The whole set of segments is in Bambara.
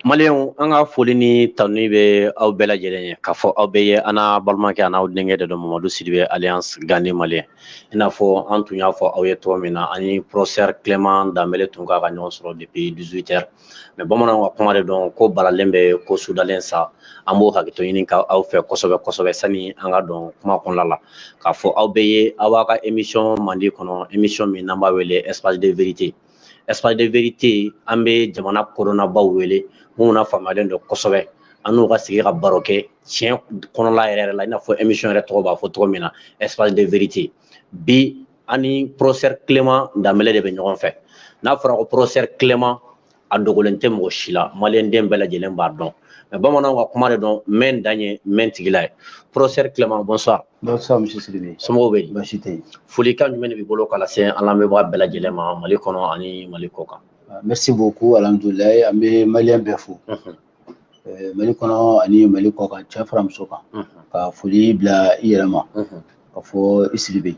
Maliɲɛnw an ka foli ni tanuni bɛ aw bɛɛ lajɛlen ye k'a fɔ aw bɛɛ ye an n'a balimakɛ an n'aw denkɛ de don Mamadu Sidibe alias Gandhi Malien i n'a fɔ an tun y'a fɔ aw ye cogo min na an ni professeur Clement Danbele tun kan ka ɲɔgɔn sɔrɔ depuis 18 heures mais bamananw ka kuma de don ko balalen bɛ ko sudalen sa an b'o hakɛto ɲini ka aw fɛ kosɛbɛ kosɛbɛ sani an ka don kuma kɔnɔna la k'a fɔ aw bɛɛ ye aw b'a ka émission mandi kɔnɔ émission min n'an b'a wele espace de vérité espace de vérité an bɛ jamana kodɔnnabaw wele minnu na faamuyalen don kosɛbɛ an n'u ka sigi ka baro kɛ tiɲɛ kɔnɔla yɛrɛ yɛrɛ la i n'a fɔ émission yɛrɛ tɔgɔ b'a fɔ cogo min na espace de vérité bi an ni professeur Clément Danbele de bɛ ɲɔgɔn fɛ n'a fɔra ko professeur Clément a dogolen tɛ mɔgɔ si la maliden bɛɛ lajɛlen b'a dɔn mais bamananw ka kuma de don mɛn dan ye mɛn tigila ye professeur Clément bonsoir somɔgɔw bɛ yen folikan jumɛn de b'i bolo ka lase an lamɛnbaa bɛɛ lajɛlen ma mali kɔnɔ ani mali kɔ kan merci beaucoup alhamdulilayi an bɛ maliyɛn bɛɛ fo mali kɔnɔ ani mali kɔ kan cɛ fara muso kan ka foli bila i yɛrɛ ma ka fɔ i Sidibe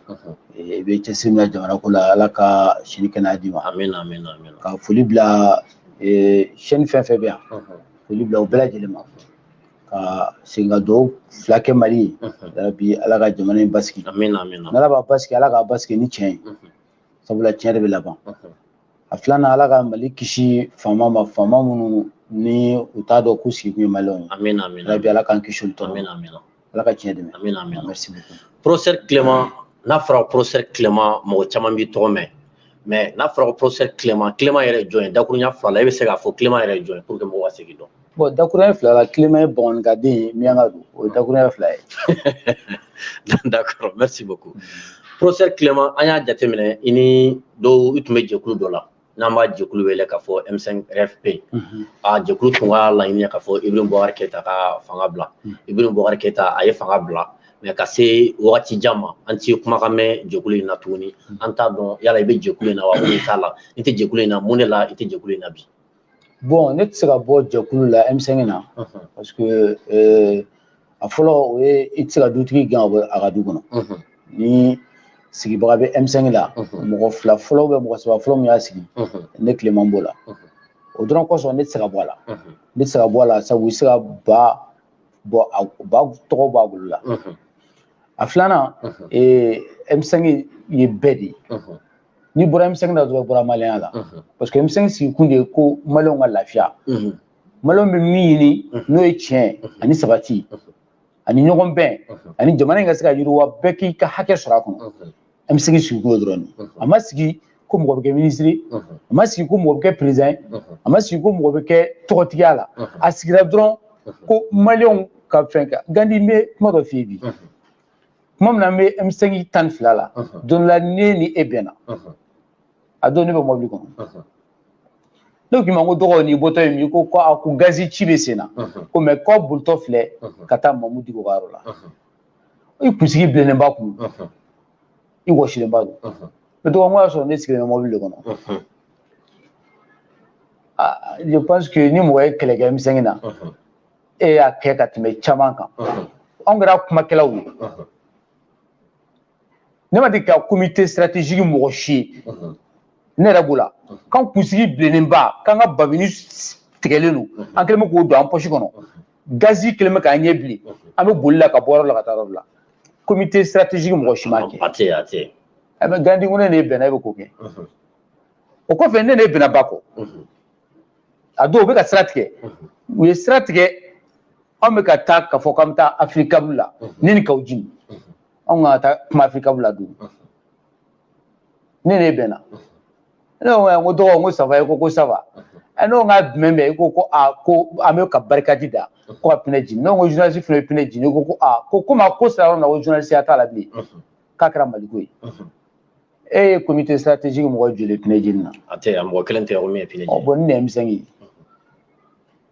i bɛ cɛsiri min na jamana ko la ala ka si ni kɛnɛya d'i ma amiina ka foli bila chaîne fɛn o fɛn bɛ yan foli bila u bɛɛ lajɛlen ma ka segin ka dugawu fila kɛ mali ye yarabi ala ka jamana in basigi n'ala b'a basigi ala k'a basigi ni tiɲɛ ye sabula tiɲɛ de bɛ laban a filanan ala ka mali kisi faama ma faama minnu ni u t'a dɔn k'u sigi kun ye maliyɛnw ye yarabi ala k'an kisi olu tɔɔrɔ ala ka tiɲɛ dɛmɛ merci beaucoup professeur Clément n'a fɔra professeur Clément mɔgɔ caman b'i tɔgɔ mɛn mais n'a fɔra ko professeur Clément Clément yɛrɛ jɔn ye dakurunya fila la e bɛ se k'a fɔ Clément yɛrɛ jɔn ye pour que mɔgɔw ka se k'i dɔn bɔn dakuruya fila la kilema ye bɔngɔni ka den ye minyanka don o ye dakuruya fila ye d'accord merci beaucoup professeur kilema an y'a jateminɛ i ni dɔw i tun bɛ jɛkulu dɔ la n'an b'a jɛkulu wele k'a fɔ m5 rfp mhm. a jɛkulu tun ka laɲini ye k'a fɔ ibrim bɔkari keyita ka fanga bila mhm. ibrim bɔkari keyita a ye fanga bila mais ka se wagati jan ma an t'i kumakan mɛn jɛkulu in na tuguni an t'a dɔn yala i bɛ jɛkulu in na wa i t'a la i tɛ jɛkulu in na mun de la i tɛ jɛkulu in na bi bɔn ne tɛ se ka bɔ jɛkulu la m5 na parce que eh, a fɔlɔ o ye i tɛ se ka dutigi gɛn a ka du kɔnɔ ni sigibaga bɛ m5 la mɔgɔ fila fɔlɔ bɛ mɔgɔ saba fɔlɔ min y'a sigi ne kilema b'o la o dɔrɔn kosɔn ne tɛ se ka bɔ a la ne tɛ se ka bɔ a la sabu i tɛ se ka ba bɔ a ba tɔgɔ b'a bolo la a filanan m5 ye bɛɛ de ye n'i bɔra m5 na dɔrɔn i bɔra maliyɛnya la parce que m5 sigi kun de ye ko maliyɛnw ka lafiya maliyɛnw bɛ min ɲini n'o ye tiɲɛ ani sabati ani ɲɔgɔn bɛn ani jamana in ka se ka yiriwa bɛɛ k'i ka hakɛ sɔrɔ a kɔnɔ m5 sigi kun dɔrɔn de a ma sigi ko mɔgɔ bɛ kɛ minisiri a ma sigi ko mɔgɔ bɛ kɛ perezidan ye a ma sigi ko mɔgɔ bɛ kɛ tɔgɔtigiya la a sigira dɔrɔn ko maliyɛnw ka fɛn kɛ gandi n bɛ kuma dɔ f'i ye bi kuma min na an bɛ m5 tan ni fila la don la ne ni e bɛnna a don ne bɛ mɔbili kɔnɔ ne k'i ma ko dɔgɔ n'i bɔtɔ ye min ko ko a ko gazi ci bɛ sen na ko ne bolitɔ filɛ ka taa mamudu diko ka yɔrɔ la i kunsigi bilennenba kun i wɔsilenba don moto kan a y'a sɔrɔ ne sigilen bɛ mɔbili de kɔnɔ je pense que ni mɔgɔ ye kɛlɛ kɛ m5 na e y'a kɛ ka tɛmɛ caman kan anw kɛra kumakɛlaw ye ne ma deli ka comité stratégique mɔgɔ si ye ne yɛrɛ b'o la k'an kunsigi bilennenba k'an ka babini tigɛlen don an kɛlen bɛ k'o don an pɔsi kɔnɔ gazi kɛlen bɛ k'an ɲɛ bilen an bɛ boli la ka bɔ yɔrɔ la ka taa yɔrɔ la comité stratégique mɔgɔ si ma kɛ a tɛ a tɛ a bɛ gandi ko ne ni e bɛnna e bɛ k'o kɛ o kɔfɛ ne ni e bɛnna ba kɔ a don u bɛ ka sira tigɛ u ye sira tigɛ anw bɛ ka taa ka fɔ k'an bɛ taa afirikabu la ne ni kaw jimi anw ka taa kuma afirikabu la don ne ni e bɛnna ne ko n ko dɔgɔ n ko ça va i ko ko ça va ɛ n'o ka jumɛn bɛ i ko ko a ko an bɛ ka barikadi da ko ka pinɛ jeni ne ko journaliste fana ye pinɛ jeni ne ko ko a ko komi a ko sera yɔrɔ min na ko journaliste ya t'a la bilen k'a kɛra maliko ye e ye comité stratégique mɔgɔ joli pinɛ jeni na a tɛ yan mɔgɔ kelen tɛ yan ko min ye pinɛ jeni bon ne ye m5 ye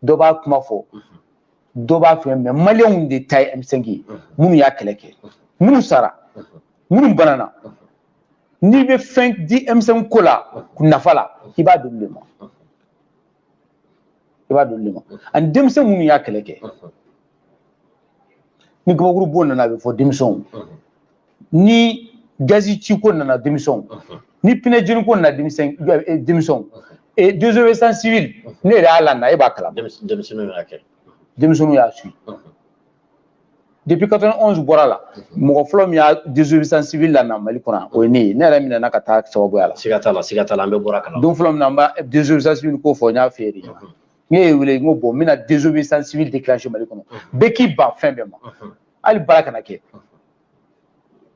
dɔ b'a kuma fɔ dɔ b'a fɛ mais maliyɛnw de ta ye m5 ye minnu y'a kɛlɛ kɛ minnu sara minnu banana n'i bɛ fɛn di m5 ko la nafa la i b'a d'olu de ma i b'a d'olu de ma ani denmisɛn minnu y'a kɛlɛ kɛ ni gabakuru bon nana a bɛ fɔ denmisɛnw ni gazi ci ko nana denmisɛnw ni pinɛ jeni ko nana denmisɛn eh, denmisɛnw eh, désobéissance civile ne yɛrɛ y'a lana e b'a kalama denmisɛnninw y'a kɛ denmisɛnninw y'a suit depuis 91 bɔra la mhm. mɔgɔ fɔlɔ min y'a désobéissance civile lana mali kɔnɔ o ye ne ye ne yɛrɛ minɛna ka taa sababuya la siga t'a la siga t'a la an bɛ bɔra kala don fɔlɔ min na n b'a désobéissance civile ko fɔ n y'a f'i ye de mhm. ne y'i wele n ko bon n bɛna désobéissance civile déclencher mali kɔnɔ mhm. bɛɛ k'i ban fɛn bɛɛ ma hali baara kana kɛ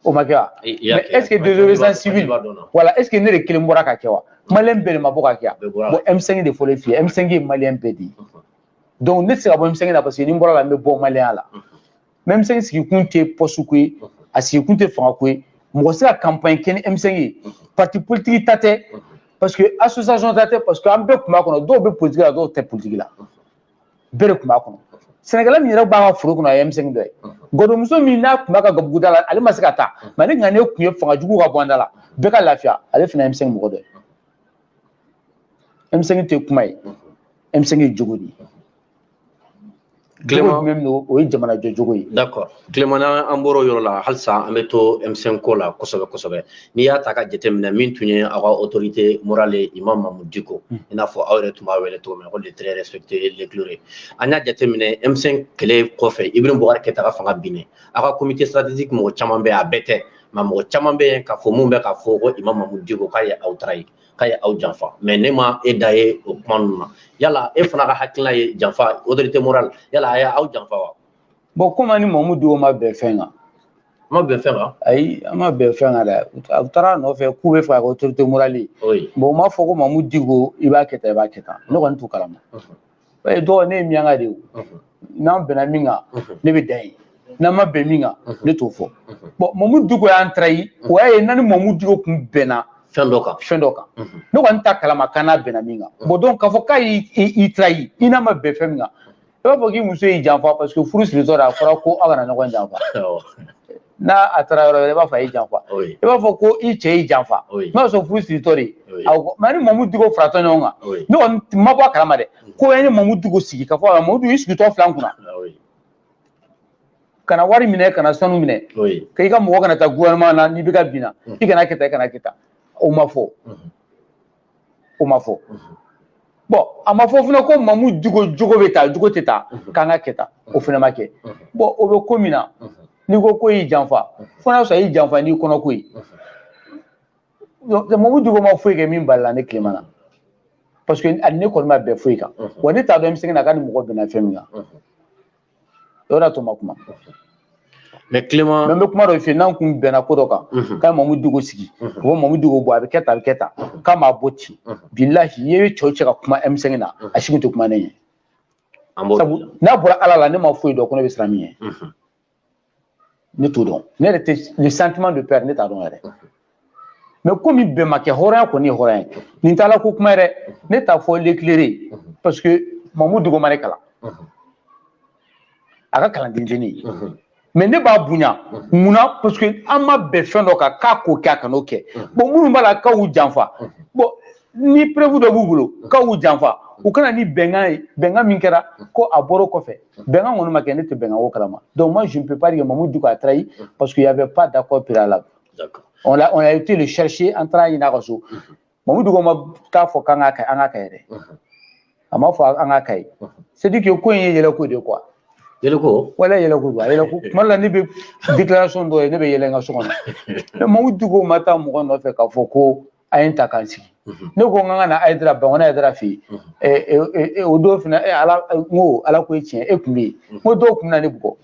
o ma kɛ wa mais est ce que désobéissance civile voilà est ce que ne de kelen bɔra k'a kɛ wa maliyɛn bɛɛ de ma bɔ k'a kɛ wa bon m5 de fɔlen f'i ye m5 ye maliyɛn bɛɛ de ye donc ne tɛ se ka bɔ M5 na parce que ni n bɔra a la n bɛ bɔ malienya la mais M5 sigikun tɛ poste ko ye a sigikun tɛ fanga ko ye mɔgɔ tɛ se ka kanpaɲi kɛ ni M5 ye pati politiki ta tɛ parce que association ta tɛ parce que an bɛɛ tun b'a kɔnɔ dɔw bɛ politiki la dɔw tɛ politiki la bɛɛ de tun b'a kɔnɔ sɛnɛkɛla min yɛrɛ b'an ka foro kɔnɔ a ye M5 dɔ ye gadonmuso min n'a tun b'a ka gabuguda la ale ma se ka taa mais n'a ŋaniya tun ye fanga jugu ka bɔ an da la bɛɛ ka lafiya ale fana ye M5 mɔgɔ dɔ ye M5 tɛ kuma ye M5 ye jogo de ye kɛlɛ min don o ye jamana jɔcogo ye d'accord Clément an b'o yɔrɔ la halisa an bɛ to M5 ko la kosɛbɛ kosɛbɛ n'i y'a ta k'a jateminɛ min tun ye aw ka autorité morale Imam Mahmoud Dicko hmm. i n'a fɔ aw yɛrɛ tun b'a wele cogo min na ko le très respecté l'éclairé an y'a jateminɛ M5 kɛlɛ kɔfɛ Ibrahim Boubacar Keïta ka fanga binnen aw ka comité stratégique mɔgɔ caman bɛ a bɛɛ tɛ mais mɔgɔ caman bɛ yen k'a fɔ min bɛ k'a fɔ ko imam Mahmoud Dicko k'a ye aw trahi k'a ye aw janfa mais ne ma e da ye o kuma ninnu na yala e fana ka hakilina ye janfa autorité morale yala a ye aw janfa wa bɔn komi an ni Mahmoud Dicko ma bɛn fɛn kan ma bɛn fɛn kan ayi an ma bɛn fɛn kan dɛ u taara a nɔfɛ k'u b'a fɛ ka autorité morale bɔn u m'a fɔ ko Mahmoud Dicko i b'a kɛ tan i b'a kɛ tan ne kɔni t'o kalama b'a dɔn ko ne ye minyanka de ye n'an bɛnna min kan ne bɛ dan yen n'an ma bɛn min kan ne t'o fɔ bɔn Mahmoud Dicko y'an trahi o y'a ye n'an ni Mahmoud Dicko kun bɛnna fɛn dɔ kan fɛn dɔ kan ne kɔni t'a kalama k'an n'a bɛnna min kan bɔn donc k'a fɔ k'a y'i trahi i n'a ma bɛn fɛn min kan i b'a fɔ k'i muso y'i janfa parce que furu siritɔ de a fɔra ko aw kana ɲɔgɔn janfa n'a a taara yɔrɔ wɛrɛ i b'a fɔ a y'i janfa i b'a fɔ ko i cɛ y'i janfa i b'a sɔrɔ furu siritɔ de mais an ni Mahmoud Dicko faratɔ ɲɔgɔn kan ne kɔni ma bɔ a kalama dɛ mm. ko an ye Mahmoud Dicko sigi k'a fɔ Mahmoud Dicko i sigitɔ filɛ an kunna kana wari minɛ kana sanu minɛ ka i ka mɔgɔ kana taa gouvernement na ni IBK binna mm. i kana kɛ tan i kana kɛ tan o ma fɔ mm-hmm. o ma fɔ bɔn a ma fɔ fana ko Mahmoud Dicko Dicko bɛ taa Dicko tɛ taa k'an ka kɛ tan o fana ma kɛ bɔn o bɛ ko min na n'i ko k'a y'i janfa fo n'a sɔrɔ a y'i janfa n'i kɔnɔ ko ye Mahmoud Dicko ma foyi kɛ min balala ne Clément na parce que ne kɔni ma bɛn foyi kan wa ne t'a dɔn M5 na k'a ni mɔgɔ bɛnna fɛn min kan yɔrɔ la to ma kuma mɛn Clément mais n bɛ kuma dɔ f'i ye n'an kun bɛnna ko dɔ kan mhm. ka Mahmoud Dicko sigi o mhm. Mahmoud Dicko k'a bɛ kɛ tan a bɛ kɛ tan mhm. k'a m'a bɔ ten bilahi i ye cɛ o cɛ ka kuma M5 na a si kun tɛ kuma ne ɲɛ sabu n'a bɔra ala la ne ma foyi dɔn ko ne bɛ siran min ɲɛ ne t'o dɔn ne yɛrɛ tɛ le sentiment de peur ne t'a dɔn yɛrɛ mɛ komi bɛnbakɛ hɔrɔnya kɔni ye hɔrɔnya ye nin t'a la ko kuma yɛrɛ ne t'a fɔ l'éclairé parce que Mamu Diko ma ne kalan a ka kalanden tɛ ne ye mɛ ne b'a bonya munna parce que an ma bɛn fɛn dɔ kan k'a k'o kɛ a kan'o kɛ bon minnu b'a la k'a y'u janfa bon ni preuve dɔ b'u bolo k'a y'u janfa u ka na ni bɛnkan ye bɛnkan min kɛra ko a bɔr'o kɔfɛ bɛnkan kɔni ma kɛ ne tɛ bɛnkan ko kalama donc moi je ne peux pas dire Mamu Diko a trahi mm. parce qu'il y avait pas d'accord préalable on a on a été le chercher an taar'a ɲini a ka so mm-hmm. Mamu Diko ma taa fɔ k'an k'a kɛ an k'a kɛ yɛrɛ mm-hmm. a ma fɔ an k'a kɛ ye mm-hmm. c'est dire que ko in ye yɛlɛko de ye quoi yɛlɛko voilà yɛlɛko don a yɛlɛko tuma la ne bɛ déclaration dɔ ye ne bɛ yɛlɛ n ka so kɔnɔ Mamu Diko ma taa mɔgɔ nɔfɛ k'a fɔ ko a ye n ta ka n sigi ne ko n ka na Ayidara Bankoni Ayidara fɛ yen o don fana ala n ko ala ko ye tiɲɛ e kun bɛ yen n ko dɔw kun na ne bugɔ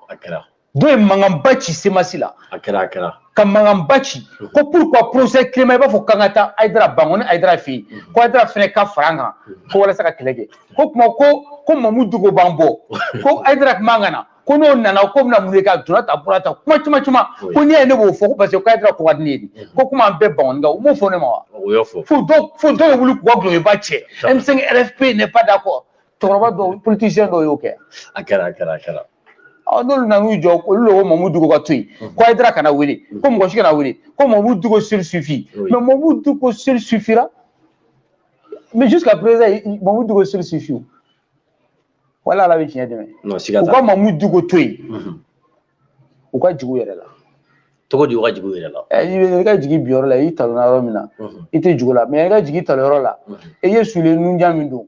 a kɛra dɔw ye mankanba ci CMAS la a kɛra a kɛra ka mankanba ci ko pourquoi professeur Clément i b'a fɔ k'an ka taa Ayidara Bankoni Ayidara fɛ yen ko Ayidara fana ka fara an kan ko walasa ka kɛlɛ kɛ ko kuma ko ko Mamu Diko b'an bɔ ko Ayidara kun man ka na ko n'o nana k'o bɛna mun de kɛ a donna ta bɔra ta kuma caman caman ko n'i y'a ye ne b'o fɔ ko parce que k'a kɛra ko ka di ne ye de ko komi an bɛɛ Bankonika u m'o fɔ ne ma wa fo dɔw fo dɔw bɛ wuli k'u ka kuloba cɛ M5 RFP n'est pas d'accord cɛkɔrɔba dɔw politicien dɔw y'o kɛ a kɛra a kɛra a kɛra ɔ n'olu nana n'u jɔ olu de ko Mamu Diko ka to yen ko Ayidara kana wele ko mɔgɔ si kana wele ko Mamu Diko seul suffit mais Mamu Diko seul suffira mais jusqu'à présent Mamu Diko seul suffit wala ala bɛ tiɲɛ dɛmɛ u ka Mamu Diko to yen u ka jigi u yɛrɛ la cogo di u ka jigi u yɛrɛ la i ka jigi i binyɔrɔ la i talonna yɔrɔ min na i tɛ jigi o la mɛ i ka jigi i talonyɔrɔ la i ye soulier nunjan min don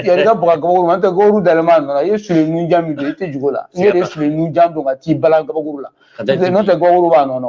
yɛrɛ ka baga gabakuru an tɛ gabakuru dalama nana i ye soulier nunjan min don i tɛ jigi o la ne de ye soulier nunjan don ka t'i bala gabakuru la n'o tɛ gabakuru b'a nɔ na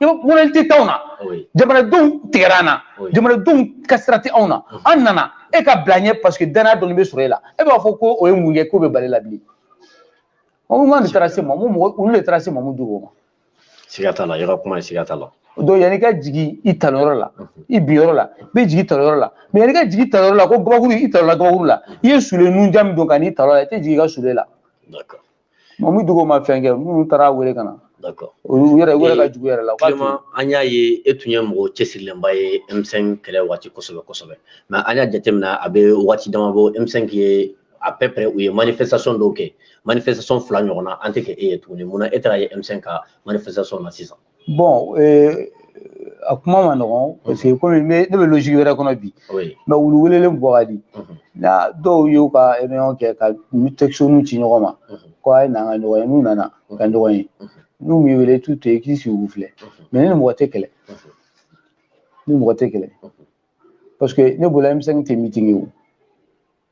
i bɛ moralité t'anw na jamanadenw tigɛra an na jamanadenw ka sira tɛ anw na an nana e ka bila ɲɛ paseke danaya dɔɔni bɛ sɔrɔ e la e b'a fɔ ko o ye mun ye k'o bɛ bali la bilen mamu de taara se mamu mɔgɔ olu de taara se Mamu Diko ma siga t'a la yɔrɔ kuma ye siga t'a la donc yanni ka jigi i talonyɔrɔ la i binyɔrɔ la i bɛ jigi talonyɔrɔ la mɛ yanni ka jigi talonyɔrɔ la ko gabakuru i talonna gabakuru la i ye soulier nunjan min don ka n'i talon a la i tɛ jigi i ka soulier la Mamu Diko ma fɛn kɛ minnu taar'a wele ka na u yɛrɛ wele ka jigi u yɛrɛ la kuma an y'a ye e tun ye mɔgɔ cɛsirilenba ye M5 kɛlɛ waati kosɛbɛ kosɛbɛ mɛ an y'a jateminɛ a bɛ waati dama bɔ M5 ye à peu près u ye manifestation dɔw kɛ manifestation fila ɲɔgɔnna an tɛ ka e ye tuguni mun na e taara ye M5 ka manifestation na sisan bɔn eh, a kuma man nɔgɔn mhm. parce que komi ne bɛ logique wɛrɛ kɔnɔ bi mɛ wulu welelen bɔ ka di mhm. ni dɔw y'u ka réunion kɛ ka textoniw ci ɲɔgɔn ma mhm. ko a ye na an ka ɲɔgɔn ye n'u nana ka ɲɔgɔn ye n'u m'i wele t'u to yen k'i sigi k'u filɛ mɛ ne ni mɔgɔ tɛ kɛlɛ ne ni mɔgɔ tɛ kɛlɛ parce que ne bolo M5 tɛ meeting ye o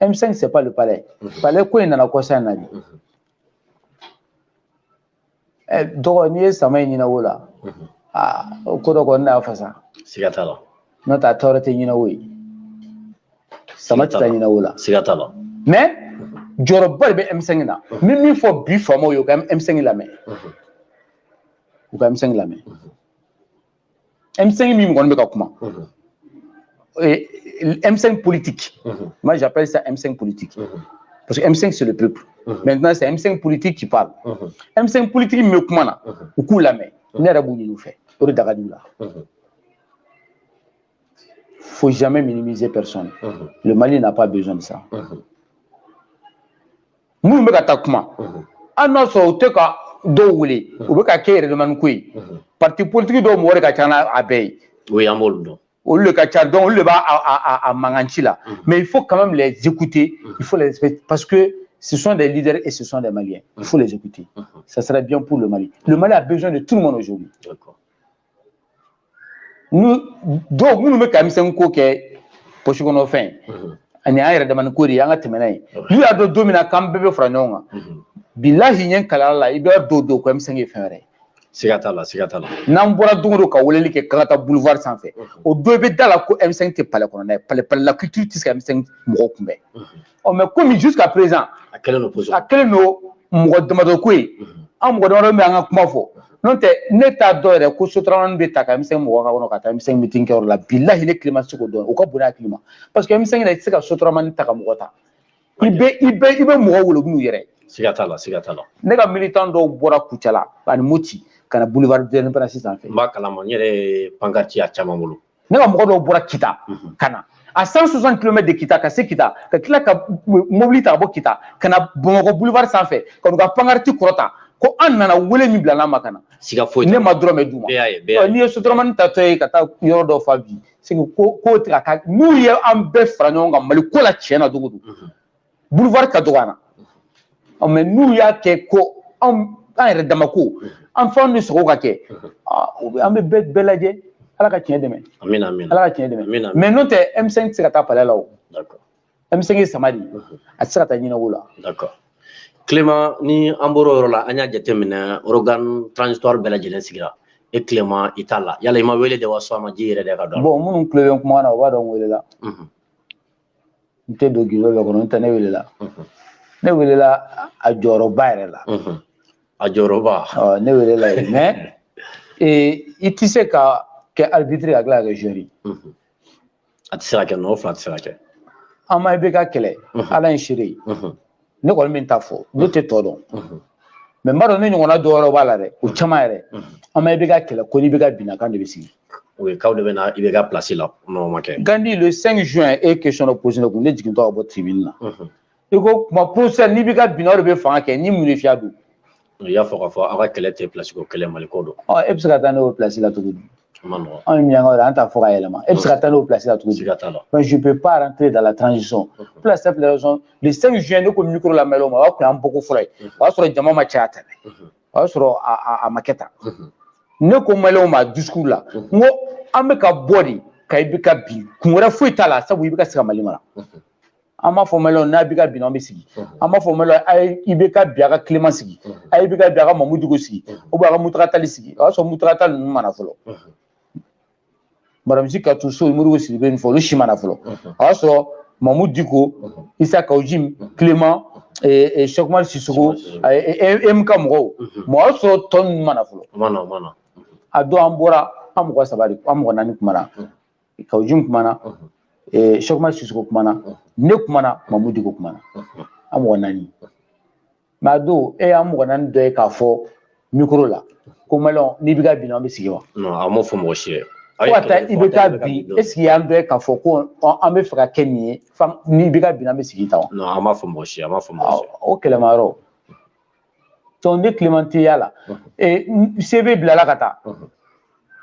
M5 c'est pas le palais palais ko in nana kɔsa in na de ɛ dɔgɔ n'i ye sama ye ɲinɛwo la aa o ko dɔ kɔni n'a fasa siga t'a la n'o tɛ a taayɔrɔ tɛ ɲinɛwo ye sama tɛ taa ɲinɛwo la siga t'a la mais jɔyɔrɔba de bɛ M5 na n bɛ min fɔ bi faamaw ye u ka M5 lamɛn u ka M5 lamɛn M5 min kɔni bɛ ka kuma M5 politique moi j'appelle ça M5 politique parce que M5 c'est le peuple maintenant c'est M5 politique qui parle M5 politique min bɛ kuma na u k'u lamɛn ne yɛrɛ b'o ɲini u fɛ o de da ka d'u la faut jamais minimiser personne. Uh -huh. Le Mali n'a pas besoin de ça. Uh -huh. Minnu bɛ ka taa kuma an n'a sɔrɔ u tɛ ka dɔw wele u bɛ k'a kɛ yɛrɛdamani ko ye parti politique dɔw mɔgɔ de ka ca n'a bɛɛ ye. o y'an b'olu dɔn. olu de ka ca donc olu de b'a a a mankan ci la mais il faut quand même les écouter il faut les respecter parce que ce sont des leaders et ce sont des Maliens il faut les écouter ça serait bien pour le Mali le Mali a besoin de tout le monde aujourd'hui. D'accord. dɔw minnu bɛ ka M5 ko kɛ posi kɔnɔ fɛn ani an yɛrɛ damani ko de an ka tɛmɛnɛna ye n'u y'a dɔn don min na k'an bɛɛ bɛ fara ɲɔgɔn kan bilahi ɲɛ kala la i b'a dɔn o don ko M5 ye fɛn wɛrɛ siga t'a la siga t'a la n'an bɔra don o don ka weleli kɛ k'an taa boulevard sanfɛ o don i bɛ da a la ko M5 tɛ palais kɔnɔ dɛ palais palais la culture tɛ se ka M5 mɔgɔw kunbɛn ɔ mɛ komi jusqu'à présent a kɛlen don position a kɛlen don mɔgɔ damadɔ ko ye an mɔgɔ damadɔ bɛ an ka kuma fɔ n'o tɛ ne t'a dɔn yɛrɛ ko sotaramanin bɛ ta ka M5 mɔgɔ k'a kɔnɔ ka taa M5 mitin kɛyɔrɔ la bilahi ne tile ma se k'o dɔn o ka bon ne hakili ma parce que M5 yɛrɛ i tɛ se ka sotaramanin ta ka mɔgɔ ta i bɛ i bɛ i bɛ mɔgɔ wele n'u yɛrɛ siga t'a la siga t'a la ne ka militan dɔw bɔra kucala ani moti ka na boulevard de l'indépendance sanfɛ n b'a kalama n yɛrɛ ye pankati y'a caman bolo ne ka mɔgɔ dɔw bɔra kita mhm. ka na à 160 km de kita ka se kita ka tila ka mobili ta ka bɔ kita ka na bamakɔ boulevard sanfɛ ka n'u ka pankariti kɔrɔta ko an nana wele min bilal'an ma ka na siga foyi ne ma dɔrɔmɛ d'u ma n'i ye sotaramanin tatɔ ye ka taa yɔrɔ dɔ fa bi sigi ko ko tɛ ka taa n'u ye an bɛɛ fara ɲɔgɔn kan mali ko la tiɲɛ na don o don boulevard ka dɔgɔ an na ɔ mɛ n'u y'a kɛ ko an an yɛrɛ dama ko an fɛnw de sogo ka kɛ an bɛ bɛɛ bɛɛ lajɛ ala ka tiɲɛ dɛmɛ ala ka tiɲɛ dɛmɛ mais n'o tɛ M5 tɛ se ka taa palais la o M5 ye sama de a tɛ se ka taa ɲɛnako la Clément ni an bɔra o yɔrɔ la an y'a jateminɛ organe transitoire bɛɛ lajɛlen sigira e Clément i t'a la yala i ma wele de wa sɔn a ma ji yɛrɛ de ka dɔn bon minnu tulo bɛ kuma na u b'a dɔn n welela n tɛ don gindo dɔ kɔnɔ n tɛ ne welela ne welela a jɔyɔrɔba yɛrɛ la a jɔyɔrɔba ne welela yen mais i tɛ se ka kɛ arbitre ka tila ka kɛ joueur a tɛ se ka kɛ nɔ fila tɛ se ka kɛ an ma IBK kɛlɛ ala ye n seere ye ne kɔni bɛ n ta fɔ ne tɛ tɔ dɔn mais n b'a dɔn ne ɲɔgɔnna dɔ yɔrɔ b'a la dɛ o caman yɛrɛ an ma IBK kɛlɛ ko ni IBK binna k'an de bɛ sigi o ye k'aw de bɛ na IBK pilasi la n'o ma kɛ gandi le 5 juin e ye question dɔ posé ne kun ne jigintɔ ka bɔ tribune na i ko kuma procès ni IBK binna o de bɛ fanga kɛ ni mun de fiya don i y'a fɔ k'a fɔ aw ka kɛlɛ tɛ pilasi ko kɛlɛ mali ko don e bɛ se ka taa n'o pilasi la cogo di anw ye minyankaw de an t'a fɔ ka yɛlɛma e bɛ se ka taa n'o pilasi la cogo di mais je peux pas rentrer dans la transition pour la simple raison le 5 juin ne ko micro la malienw ma o y'a kun y'an bɔko fɔlɔ ye o y'a sɔrɔ jama ma caya tan dɛ o y'a sɔrɔ a ma kɛ tan ne ko malienw ma discours la n ko an bɛ ka bɔ de ka IBK bin kun wɛrɛ foyi t'a la sabu IBK tɛ se ka mali mara an m'a fɔ malien ni IBK bin an bɛ sigi an m'a fɔ malien a ye IBK bin a ka Clément sigi a ye IBK bin a ka Mahmoud Dicko sigi ou bien ka Mountaga Tall sigi o y'a sɔrɔ Mountaga ninnu ma na fɔlɔ madame Sy Kadiatou Sow Modibo Sidibé nin fɔ olu si ma na fɔlɔ o y'a sɔrɔ Mahmoud Dicko Issa Kaou Djim Clément Cheick Oumar Sissoko EMK mɔgɔw mɛ o y'a sɔrɔ tɔ ninnu ma na fɔlɔ a don an bɔra an mɔgɔ saba de an mɔgɔ naani kuma na Kaou Djim kumana Cheick Oumar Sissoko kumana ne kumana Mahmoud Dicko kumana an mɔgɔ naani mais a don e y'an mɔgɔ naani dɔ ye k'a fɔ mikoro la ko malien ni IBK bin an bɛ sigi wa an m'o fɔ mɔgɔ si ye fo ka taa IBK bin est-ce que i y'an dɔ ye k'a fɔ ko an bɛ fɛ ka kɛ nin ye ni IBK bin an bɛ sigi ta wa an m'a fɔ mɔgɔ si ye an m'a fɔ mɔgɔ si o Clément yɔrɔ donc ne Clément ta y'a la CV bilala ka taa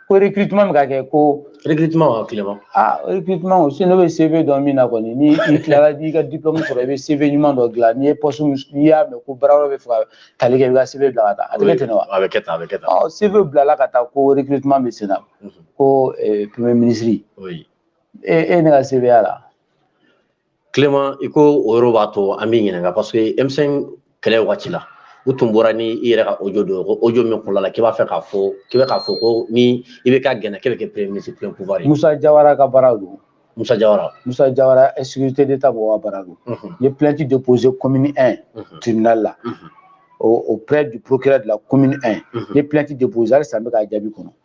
ko recrutement bɛ ka kɛ ko recrutement wa Clément ah recrutement o si ne bɛ CV dɔn min na kɔni ni i tilala i ka diplôme sɔrɔ i bɛ CV ɲuman dɔ dilan n'i ye poste n'i y'a mɛn ko baarayɔrɔ bɛ fɛ ka tali kɛ i b'i ka CV bila ka taa a tɛ kɛ ten wa a bɛ kɛ tan a bɛ kɛ tan ɔ CV bilala ka taa ko recrutement bɛ sen na ko premier ministre e e ne ka CV y'a la Clément i ko o yɔrɔ b'a to an b'i ɲininka parce que M5 kɛlɛ wagati la u tun bɔra ni i yɛrɛ ka audio dɔ ye ko audio min kɔnɔna la k'i b'a fɛ k'a fɔ k'i bɛ k'a fɔ ko ni IBK gɛnna k'e bɛ kɛ premier ministre plein pouvoir ye Musa Jawara ka baara don Musa Jawara Musa Jawara ni sécurité d'État mɔgɔw ka baara don n ye plainte déposée commune 1 tribunal la auprès du procureur de la commune 1 n ye plainte déposée halisa n bɛ k'a jaabi kɔnɔ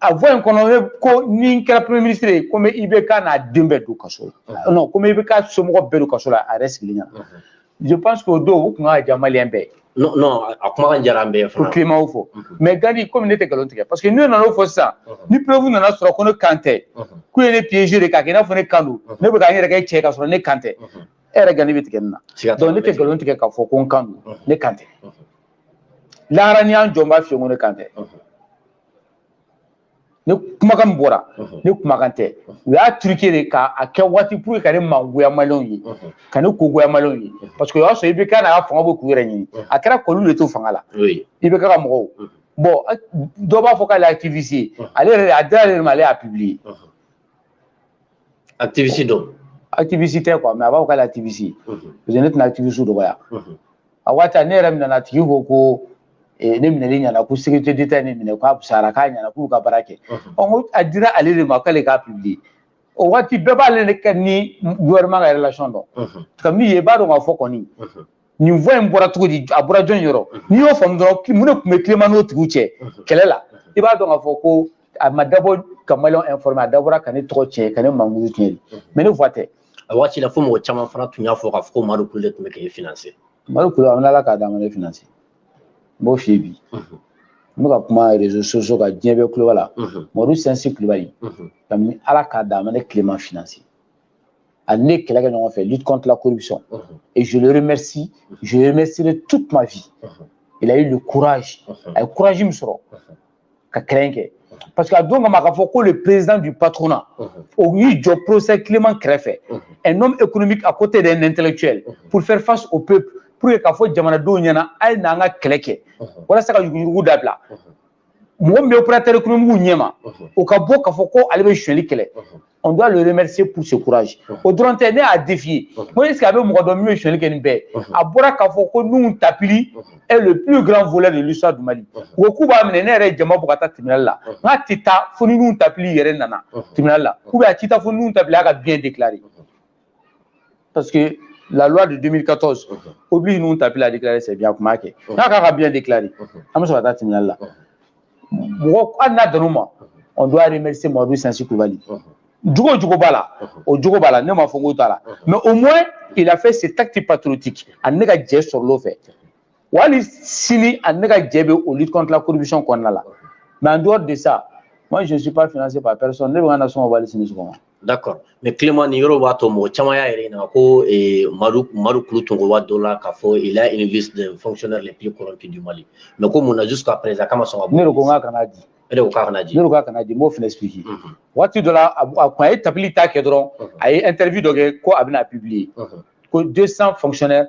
a voix in kɔnɔ e ko ni n kɛra premier ministre ye ko n bɛ IBK n'a den bɛɛ don kaso la non ko n bɛ IBK somɔgɔ bɛɛ don kaso la a yɛrɛ sigilen ɲɛna je pense que o don o tun ka diya maliyɛn bɛɛ ye. non non a kumakan diyara an bɛɛ ye fana. o Clément o fɔ mais Gandhi komi ne tɛ nkalon tigɛ parce que n'u nana o fɔ sisan ni preuve nana sɔrɔ ko ne kan tɛ k'u ye ne piéger de k'a kɛ i n'a fɔ ne kan don ne bɛ ka n yɛrɛ kɛ cɛ ye k'a sɔrɔ ne kan tɛ e yɛrɛ Gandhi bɛ tigɛ n na donc ne tɛ nkalon tigɛ k'a fɔ ko n kan don ne kan tɛ lahara n'u y'an jɔ n b'a f'i ye ko ne kan tɛ. ne kumakan min bɔra ne kumakan tɛ u y'a truquer de k'a kɛ waati pour ka ne mangoya maliyɛnw ye ka ne ko goya maliyɛnw ye parce que o y'a sɔrɔ IBK n'a ka fanga bɛ k'u yɛrɛ ɲini a kɛra k'olu de to fanga la IBK ka mɔgɔw bon dɔ b'a fɔ k'ale activiste ale yɛrɛ a dira ale de ma ale y'a publier activiste don activiste tɛ quoi mais a b'a fɔ k'ale activiste parce que ne tɛna activiste dɔgɔya a waati ne yɛrɛ minɛna a tigi ko ko ne minɛli ɲɛna ko sécurité d'état ye ne minɛ k'a fisayara k'a ɲɛna k'u y'u ka baara kɛ ɔ ko a dira ale de ma k'ale k'a publier o waati bɛɛ b'ale ka ni gouvernement ka relation dɔn ka min ye i b'a dɔn k'a fɔ kɔni nin voix in bɔra cogo di a bɔra jɔn yɔrɔ n'i y'o faamu dɔrɔn mun de tun bɛ Clément n'o tigiw cɛ kɛlɛ la i b'a dɔn k'a fɔ ko a ma dabɔ ka maliyɛnw informer a dabɔra ka ne tɔgɔ tiɲɛ ka ne mankutu tiɲɛ de mais ne voix tɛ a waati la fo mɔgɔ caman fana tun y'a fɔ k'a fɔ ko Madu Kulu de tun bɛ k'e financer Madu Kulu an Ala k'a dan a ma ne financer n b'o f'i ye bi n bɛ ka kuma réseaux sociaux kan diɲɛ bɛɛ tulo b'a la Madu Sinsi Kulubali kabini Ala k'a dan a ma ne Clément financer a ni ne kɛlɛ kɛ ɲɔgɔn fɛ lutte contre la corruption et je le remercie je remercierai toute ma vie il a eu le courage a ye courage min sɔrɔ ka kɛlɛ kɛ parce que a don kama k'a fɔ ko le président du patronat o y'i jɔ professeur Clément kɛrɛfɛ un homme économique à côté d'un intellectuel pour faire face au peuple pour que k'a fɔ jamanadenw ɲɛna a ye n'an ka kɛlɛ kɛ walasa ka yuruguyurugu dabila mɔgɔ min bɛ opérateur économique ɲɛ ma o ka bɔ k'a fɔ ko ale bɛ sonyali kɛlɛ on doit le remercier pour ce courage o dɔrɔn tɛ ne y'a défier ko est ce que a bɛ mɔgɔ dɔn min bɛ sonyali kɛ nin bɛɛ a bɔra k'a fɔ ko Nuhun Tapili est le plus grand voleur de l'histoire du Mali u ko k'u b'a minɛ ne yɛrɛ jama bɔ ka taa tribunal la n k'a tɛ taa fo ni Nuhun Tapili yɛrɛ nana tribunal la ou bien a tɛ taa fo ni Nuhun Tapili y'a ka biens déclarer parce que la loi de 2014 oblige Nuhun Tapili à déclarer ses biens a kun m'a kɛ n ko a k'a ka bien déclarer an bɛ sɔrɔ ka taa tribunal la mɔgɔ hali n'a dann'o ma on doit remercier Mamadu Sinsi Kulubali jogo jugu b'a la o jogo b'a la ne m'a fɔ n k'o t'a la mais au moins il a fait cet acte patriotique a ni ne ka jɛ sɔrɔl'o fɛ hali sini a ni ne ka jɛ bɛ o lutte contre la corruption kɔnɔna la mais en dehors de ça moi je ne suis pas financé par personne ne bɛ ka nasɔngɔ hali sini sɔgɔma. d'accord mais Clément nin yɔrɔ b'a to mɔgɔ caman y'a yɛrɛ ɲininka ko eh, Madu Madu Kulu tun ko waati dɔ la k'a fɔ il y a une liste des fonctionnaires les plus corrompus du Mali mais ko mun na jusqu'à présent k'a ma sɔn k'a bɔ. ne de ko n k'a kana di. e de ko k'a kana di. ne de ko k'a kana di n b'o fana expliquer. Mhm. waati dɔ la a kun a ye Tapili ta kɛ dɔrɔn mhm. a ye interview dɔ kɛ ko a bɛn'a publier. Mhm. ko 200 fonctionnaires.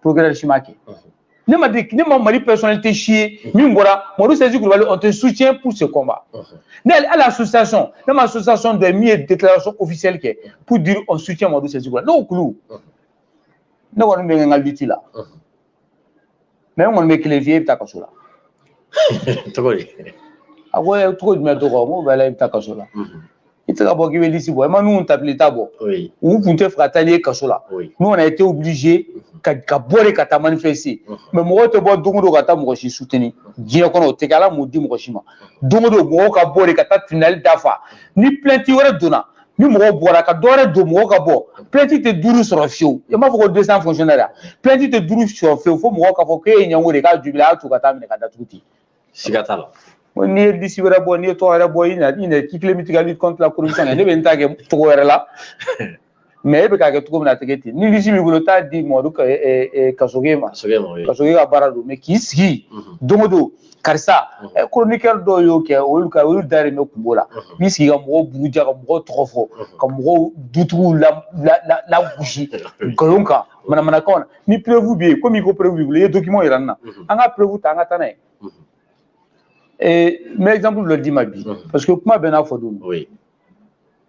procureur si m'a kɛ ne ma di ne ma Mali personnalité si ye min bɔra Madu Sinsi Kulubali on te soutient pour ce combat ne hali association ne ma association dɔ ye min ye déclaration officielle kɛ pour dire on soutient Madu Sinsi Kulubali n'o kulu ne kɔni bɛ n ka lutte la mais n kɔni bɛ kelen f'i ye i bɛ taa kaso la cogo di a ko cogo jumɛn to kɔ n ko bɛɛ la i bɛ taa kaso la i tɛ ka bɔ k'i bɛ lisi bɔ i ma Nuhun Tapili ta bɔ u tun tɛ fɛ ka taa n'i ye kaso la n'o na i tɛ obligé ka ka bɔ de ka taa manifester mɛ mɔgɔw tɛ bɔ don o don ka taa mɔgɔ si soutenir diɲɛ kɔnɔ o tɛ kɛ ala m'o di mɔgɔ si ma don o don mɔgɔw ka bɔ de ka taa tribunal dafa ni plainte wɛrɛ donna ni mɔgɔw bɔra ka dɔ wɛrɛ don mɔgɔw ka bɔ plainte tɛ duuru sɔrɔ fiyewu i m'a fɔ ko 200 fonctionnaire a plainte tɛ duuru sɔrɔ fiyewu fo mɔgɔw k'a fɔ k'e ye ɲɛngo de ye k'a jubila a y'a to ka taa minɛ k'a datugu ten siga t'a la ko n'i ye lisi wɛrɛ bɔ n'i ye tɔgɔ wɛrɛ bɔ i na i na k'i kelen bɛ tigɛ ni contre la corruption ne bɛ n ta kɛ cogo wɛrɛ la mɛ e bɛ k'a kɛ cogo min na a tɛ kɛ ten ni lisi b'i bolo taa di Madu Kasoge ma Kasoge ka baara don mɛ k'i sigi don o don karisa koronikɛri dɔw y'o kɛ olu ka olu da de bɛ kungo la n'i sigi ka mɔgɔw buruja ka mɔgɔw tɔgɔ fɔ ka mɔgɔw dutigiw lagosi nkalon kan manamanakan na ni preuve bɛ yen komi ko preuve b'i bolo i ye document yira n na mhm. an ka preuve ta an ka taa n'a ye mhm. eh, n bɛ exemple dɔ d'i ma bi mhm. parce que kuma bɛɛ n'a fɔ don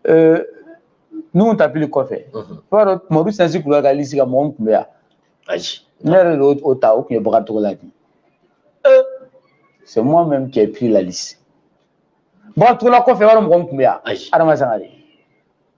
eh, Nuhun Tapili kɔfɛ i b'a dɔn Mamadu Sinsi Kulubali ka lisi kan mɔgɔ min tun bɛ yan ne yɛrɛ de y'o ta o tun ye Bakari Togola de ye c'est moi même qui ai pris la liste Bakari Togola kɔfɛ i b'a dɔn mɔgɔ min tun bɛ yan Adama Sangare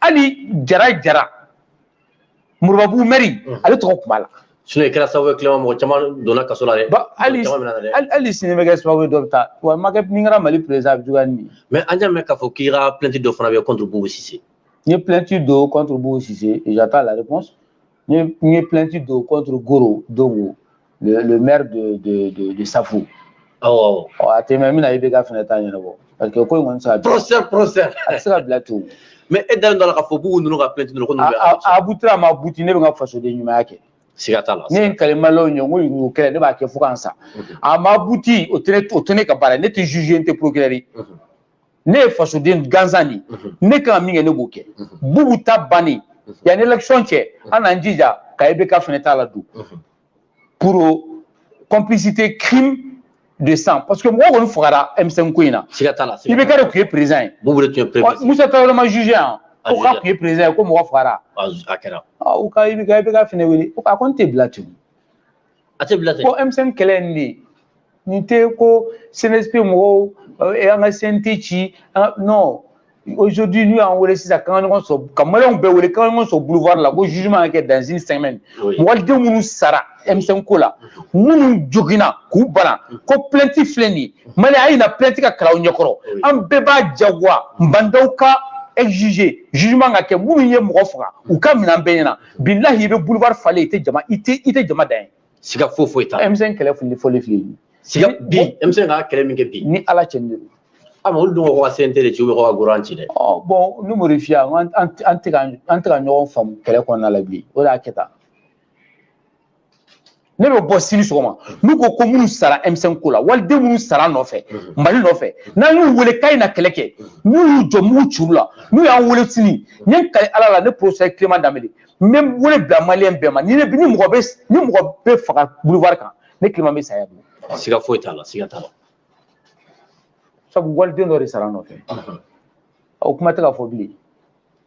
hali Jara Jara Moribabugu mɛri mm. ale tɔgɔ tun b'a la sinon i kɛra sababu ye Clément mɔgɔ caman donna kaso la dɛ hali sini n bɛ kɛ sababu ye dɔ bɛ taa wa ma kɛ ni n kɛra Mali perezidan a bɛ juguya ni nin ye mɛ an y'a mɛn k'a fɔ k'i ka plainte dɔ fana bɛ contre Bubu Sise n ye plainte don contre Bubu Sise et j'attends la réponse N ye plainte don contre Goro Dongo le, le maire de, de, de, de Safu. Awɔ. Ɔ a tɛ mɛn n bɛna IBK fana ta ɲɛnabɔ parce que ko in kɔni tɛ se ka. Procès procès. A tɛ se ka bila ten. Mais e dalen don a la k'a fɔ k'u ninnu ka plainte ninnu ko ninnu bɛ. A a butira a ma buti ne bɛ n ka fasoden ɲumanya kɛ. siga t'a la ne ye kali maliyɛnw ye n ko yurugu kɛlɛ ne b'a kɛ fo ka n sa a ma buti o tɛ ne ka baara ne tɛ juge n tɛ procureur ye ne ye fasoden gansan de ne kan ka min kɛ ne b'o kɛ bubu ta bannen yanni election cɛ an n'an jija ka IBK fana ta ladon pour complicité crime de sang parce que mɔgɔ kɔni fagara M5 ko in na siga t'a la IBK de tun ye président ye bubu de tun ye président Musa Tarawele ma juger yan ko k'a tun ye président ye ko mɔgɔ fagara a kɛra u ka IBK IBK fana wele ko a kɔni tɛ bila ten a tɛ bila ten ko M5 kɛlɛ in de n tɛ ko CNSP mɔgɔw eh, an ka CNT ci non aujourd'hui n'u y'an wele sisan k'an ka ɲɔgɔn sɔrɔ ka maliyɛnw bɛɛ wele k'an ka ɲɔgɔn sɔrɔ boulevard la ko jugement ka kɛ dans une semaine mɔgɔden minnu sara M5 ko la minnu joginna k'u bana ko plainte filɛ nin ye maliyɛnw a ye na plainte ka kalan aw ɲɛkɔrɔ an bɛɛ b'a jagoya Ba Ndaw kan exiger jugement ka kɛ minnu ye mɔgɔ faga u ka minɛ an bɛɛ ɲɛna bilahi i bɛ boulevard falen i tɛ jama i tɛ i tɛ jama dan ye siga foyi foyi t'a la M5 kɛlɛ fili fɔli fili siga bi M5 ka kɛlɛ min kɛ bi ni ala cɛ ni a ma olu dun ko ka CNT de ci u bɛ ko ka gouvernement ci dɛ ɔ bon ni mori fiya an tɛ ka an tɛ ka ɲɔgɔn faamu kɛlɛ kɔnɔna la bi o de y'a kɛ tan ne bɛ bɔ sini sɔgɔma n'u ko ko minnu sara M5 ko la waliden minnu sara an nɔfɛ mali nɔfɛ n'an y'u wele k'a ye na kɛlɛ kɛ n'u y'u jɔ mugu cira u la n'u y'an wele sini n ye kali ala la ne professeur Clément Dembélé n bɛ wele bila maliyɛn bɛɛ ma ni ne ni mɔgɔ bɛ ni mɔgɔ bɛ faga boulevard kan ne Clément bɛ saya dun siga foyi t'a la siga t'a la sabu waliden dɔ de sara an nɔfɛ o kuma tɛ ka fɔ bilen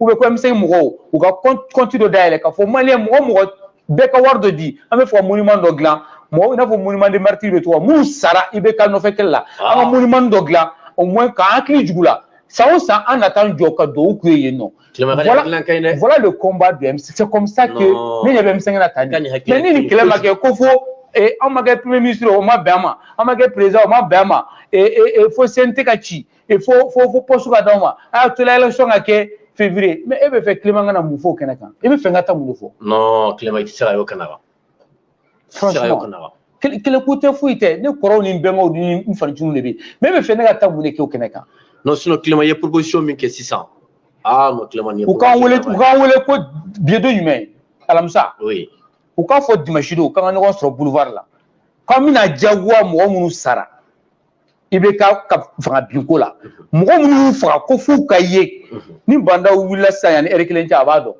u bɛ ko M5 mɔgɔw u ka kɔnti dɔ dayɛlɛ k'a fɔ mali mɔgɔ mɔgɔ bɛɛ ka wari dɔ di an bɛ fɔ ka monument dɔ dilan mɔgɔw i n'a fɔ monument des martyrs bɛ tɔgɔ minnu sara IBK nɔfɛ kɛlɛ la an ka monument dɔ dilan o mɔ k'an hakili jigin u la san o san an na taa an jɔ ka dugawu k'u ye yen nɔ voilà le combat de M5 c'est comme ça que ne ɲɛ bɛ M5 na tan mais ni nin kɛlɛ ma kɛ ko fo an ma kɛ premier ministre o ma bɛn an ma an ma kɛ président o ma bɛn an ma fo CNT ka ci e fo fo fo poste ka d'aw ma a y'a to la élection ka kɛ février mais e b'a fɛ Clément ka na mun f'o kɛnɛ kan i b'a fɛ n ka taa mun de fɔ. non Clément i tɛ se ka y'o kɛnɛ kan. franchement kɛlɛko tɛ foyi tɛ ne kɔrɔw ni n bɛnkɛw ni n fa nciniw de bɛ yen mais e b'a fɛ ne ka taa mun de kɛ o kɛnɛ kan. non sinon Clément ye proposition min kɛ sisan aa non Clément nin ye. u k'an wele u k'an wele ko bi ye don jumɛn alamisa. oui. u k'a fɔ dimanche don k'an ka ɲɔgɔn sɔrɔ boulevard la k'an bɛna diyagoya mɔgɔ minnu sara. IBK ka fanga binko la mɔgɔ minnu y'u faga ko f'u ka ye ni ba ndaw wulila sisan yanni ɛri kelen cɛ a b'a dɔn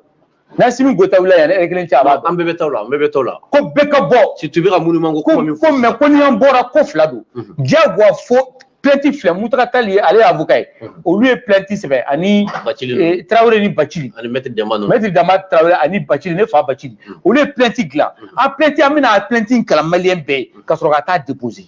n'asimi goyita wulila yanni ɛri kelen cɛ a b'a dɔn an bɛɛ bɛ taa o la an bɛɛ bɛ taa o la ko bɛɛ ka bɔ situ bɛ ka minnu man ko ko ko mɛ ko ni an bɔra ko fila don diyagoya fo plainte filɛ muntaga tali ye ale ye avocat ye olu ye plainte sɛbɛn ani tarawele ni bacili ani mɛtiri dɛmba mɛtiri dɛmba tarawele ani bacili ne fa bacili olu ye plainte dilan a plainte an bɛna a plainte kalan maliyɛn bɛɛ ye ka sɔrɔ ka taa déposer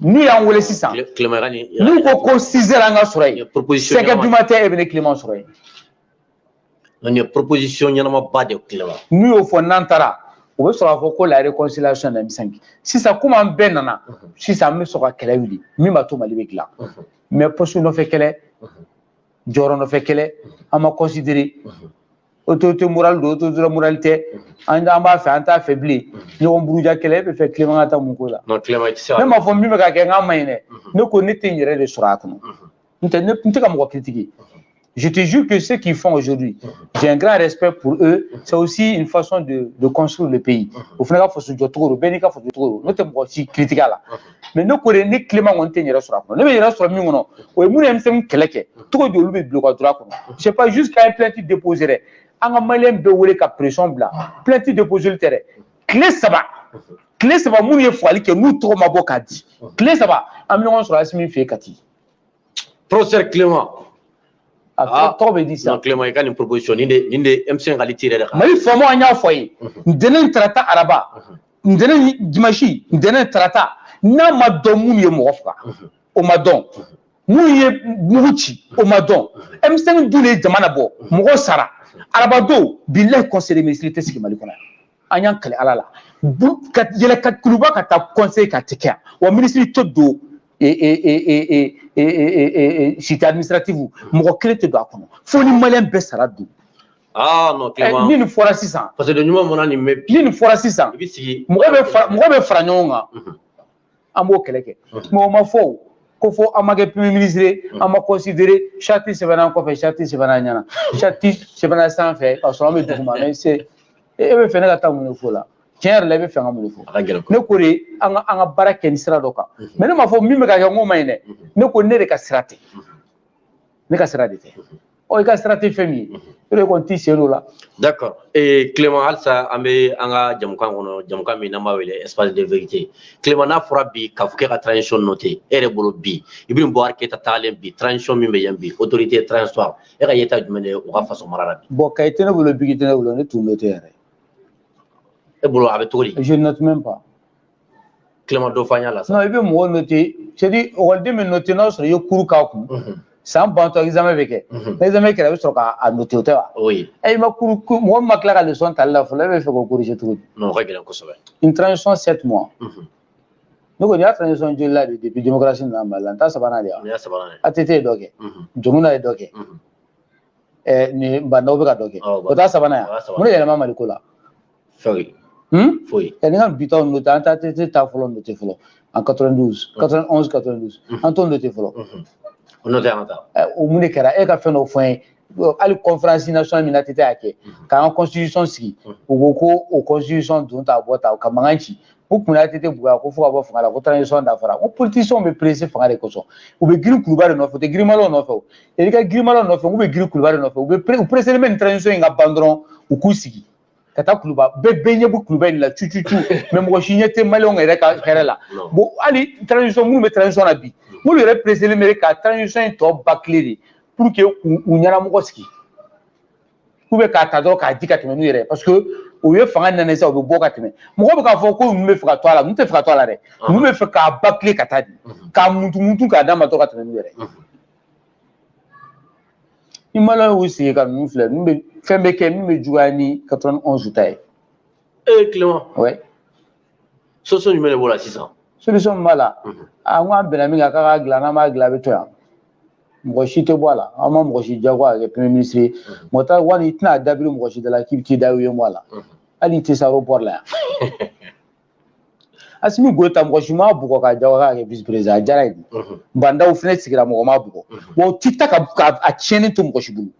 n'u y'an wele sisan n'u ko ko six heures an ka sɔrɔ yen sɛgɛ duma tɛ e bɛ ne clément sɔrɔ yen nin ye proposition ɲɛnamaba de clément n'u y'o fɔ n'an taara u bɛ sɔrɔ k'a fɔ ko la réconciliation na M5 sisan komi an bɛɛ nana sisan an bɛ sɔrɔ ka kɛlɛ wuli min b'a to mali bɛ dilan mais poste nɔfɛ kɛlɛ jɔyɔrɔ nɔfɛ kɛlɛ an ma considérer autorité morale don autorité morale tɛ an an b'a fɛ an t'a fɛ bilen ɲɔgɔn buruja kɛlɛ e b'a fɛ clément ka taa mun ko la ne m'a fɔ min bɛ ka kɛ n k'a man ɲi dɛ ne ko ne tɛ n yɛrɛ de sɔrɔ a kɔnɔ n tɛ ne n tɛ ka mɔgɔ critiquer je te jure que ceux qui font aujourd'hui j'ai un grand respect pour eux c'est aussi une façon de de construire le pays o fana ka faso jɔ cogo don bɛɛ n'i ka faso jɔ cogo don ne tɛ mɔgɔ si critiquer a la mais ne ko de ne clément kɔni tɛ n yɛrɛ sɔrɔ a kɔnɔ ne bɛ n yɛrɛ sɔrɔ min kɔnɔ o ye minnu ye M5 kɛlɛ kɛ cogo di olu bɛ bila u ka droit kɔnɔ c'est pas juste k'a ye plainte déposer dɛ an ka maliyɛn bɛɛ wele ka pression bila plainte déposer tɛ dɛ tile saba tile saba minnu ye fagali kɛ n'u tɔgɔ ma bɔ k'a di tile saba an bɛ ɲɔgɔn sɔrɔ asimi fɛ yen kati professeur clément a tɔgɔ bɛ di sisan clément i ka nin proposition nin de nin de M5 ka lutte yɛrɛ de kan mali faamaw an y'a fɔ a ye ntɛnɛn tarata araba ntɛnɛn dimansi ntɛnɛn tarata n'a ma dɔn minnu ye mɔgɔ faga mhm. o ma dɔn mhm. minnu ye mugu ci o ma dɔn M5 mhm. dun ye jama labɔ mɔgɔ sara arabadon bilayi conseil de ministre tɛ sigi mali kɔnɔ yan an y'an kali ala la ka yɛlɛ ka kuluba ka taa conseil kɛ a tɛ kɛ yan wa minisiri tɛ don cité administrative mɔgɔ kelen tɛ don a kɔnɔ fo ni maliyɛn bɛɛ sara don aa non Eh, Clément ni nin fɔra sisan parce que ɲuman mana nin mɛn bi ni nin fɔra sisan i bɛ sigi mɔgɔ bɛ fara mɔgɔ bɛ fara ɲɔgɔn kan Mhm. an b'o kɛlɛ kɛ Mhm. mɔgɔ ma fɔ o, ko fɔ an ma kɛ premier ministre ye, Mhm. an ma considérer charte sɛbɛnna an kɔfɛ charte sɛbɛnna an ɲɛna charte sɛbɛnna sanfɛ k'a sɔrɔ an bɛ duguma mais c'est e e b'a fɛ ne ka taa mun de fɔ o la tiɲɛ yɛrɛ la i b'a fɛ ka mun de fɔ a ka gɛlɛn ko ne ko de an ka an ka baara kɛ ni sira dɔ kan Mhm. mais ne m'a fɔ min bɛ ka kɛ n k'o man ɲi dɛ Mhm. ne ko ne de ka sira tɛ ne ka sira de tɛ ɔ i ka sira tɛ fɛn min ye o de kɔni t'i sen don o la. d'accord ee Clément halisa an bɛ an ka jɛmukan kɔnɔ jɛmukan min n'an b'a wele espace de vérité Clément n'a fɔra bi k'a fɔ k'e ka transition noter e yɛrɛ bolo bi Ibrahim Boubacar Keita taalen bi transition min bɛ yen bi autorité transitoire e ka yeta jumɛn de ye u ka faso mara la bi. bon kaye tɛ ne bolo biki tɛ ne bolo ne t'u noter yɛrɛ. e bolo a bɛ cogo di. je ne note même pas. Clément dɔ faamuya la sisan i bɛ mɔgɔ note c'est-à-dire ekɔliden min note n'a sɔrɔ i ye cours k'a kun san bantɔ examen bɛ kɛ ni examen kɛra i bɛ sɔrɔ k'a note o tɛ wa e ma cours mɔgɔ min ma tila ka leçon tali la fɔlɔ e bɛ fɛ k'o corriger cogo di o ka gɛlɛn kosɛbɛ une transition sept mois ne kɔni y'a transition joli la de depuis démocratie nana Mali la nin t'a sabanan de ye ATT ye dɔ kɛ Dioncounda ye dɔ kɛ nin Bah N'Daw bɛ ka dɔ kɛ o t'a sabanan ye wa mun de yɛlɛma Maliko la fɛw ye Hmm? foyi tɛ nin ka bi taw note an t'ATT ta fɔlɔ note fɔlɔ en 92 91 92 an t'o note fɔlɔ o note an ka taa o mun de kɛra e ka fɛn dɔ fɔ an ye hali conférence nationale min ATT y'a kɛ k'an ka constitution sigi u ko ko o constitution don ta bɔ ta ka mankan ci u kun y'ATT buguya ko fo ka bɔ fanga la ko transition dafara ko politiciens bɛ presse fanga de kosɔn u bɛ girin kuluba de nɔfɛ u tɛ girin maliyɛnw nɔfɛ o yɛrɛ ka girin maliyɛnw nɔfɛ u bɛ girin kuluba de nɔfɛ u bɛ u presselen bɛ nin transition in ka ban dɔrɔn u k'u sigi ka taa kuluba bɛɛ bɛɛ ɲɛ bɛ kuluba in la cu cu cu mais mɔgɔ si ɲɛ tɛ maliyɛnw yɛrɛ ka hɛrɛ la bon hali transition minnu bɛ transition na bi n'olu yɛrɛ pereselen bɛ ka transition in tɔ bâcler de pour que u ɲɛnamɔgɔ sigi k'u bɛ k'a ta dɔrɔn k'a di ka tɛmɛ n'u yɛrɛ ye parce que o ye fanga nana sisan u bɛ bɔ ka tɛmɛ mɔgɔ bɛ k'a fɔ ko ninnu bɛ fɛ ka to a la ninnu tɛ fɛ ka to a la dɛ ninnu bɛ fɛ k'a bâcler k'a ta k'a di k'a muntumutu k'a d'a ma dɔrɔn ka tɛmɛ n'u yɛrɛ ye ni maliyɛnw y'u sigi ka ninnu filɛ min bɛ fɛn bɛ kɛ min bɛ juguya ni quatre-vingt-onze ta ye. ee Clément. oui. solution jumɛn de b'o la sisan. solution min b'a la. a n ko an bɛnna min kan k'an k'a dilan n'an m'a dilan a bɛ to yan. mɔgɔ si tɛ bɔ a la an ma mɔgɔ si jagoya ka kɛ premier ministre ye Moctar Ouane i tɛna dabiri mɔgɔ si da la k'i bɛ t'i da u ye bɔ a la hali i tɛ se aéroport la yan. Assimi Goïta mɔgɔ si m'a bugɔ k'a jagoya k'a kɛ vice président a diyar'a ye Bah N'Daw fana sigira mɔgɔ m'a bugɔ wa u tɛ taa k'a tiɲɛni to mɔgɔ si bolo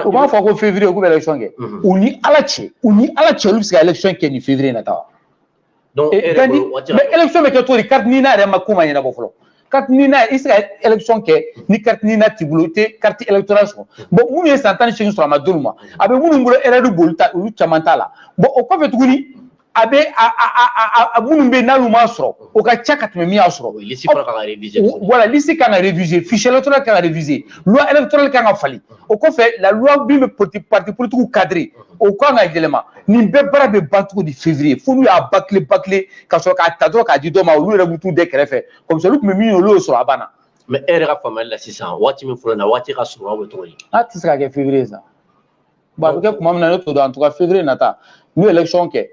u b'a fɔ ko février k'u bɛ élection kɛ u ni ala cɛ u ni ala cɛ olu bɛ se ka élection kɛ nin février in nata wa donc e yɛrɛ bolo waati mais élection bɛ kɛ cogo di carte NINA yɛrɛma ko ma ɲɛnabɔ fɔlɔ carte NINA i se ka élection kɛ ni carte NINA t'i bolo i tɛ carte électorale sɔrɔ bon minnu ye san tan ni seegin sɔrɔ a ma d'olu ma a bɛ minnu bolo erreur b'olu ta olu caman ta la bon o kɔfɛ tuguni a bɛ a minnu bɛ n'olu m'a sɔrɔ o ka ca ka tɛmɛ min y'a sɔrɔ liste kan ka réviser voilà liste kan ka réviser fichier électoral kan ka réviser loi électorale kan ka falen o kɔfɛ la loi min bɛ parti politigiw cadre o kan ka yɛlɛma nin bɛɛ baara bɛ ban cogo di février fo n'u y'a bâcler bâcler ka sɔrɔ k'a ta dɔrɔn k'a di dɔ ma olu yɛrɛ bɛ t'u da kɛrɛfɛ comme ça olu tun bɛ min fɛ olu y'o sɔrɔ a banna mais e yɛrɛ ka faamuyali la sisan waati min fɔlen waati ka surun aw bɛ cogo di a tɛ se ka kɛ février sa bon a bɛ kɛ tuma min na ne t'o dɔn en tout cas février nata n'u ye élection kɛ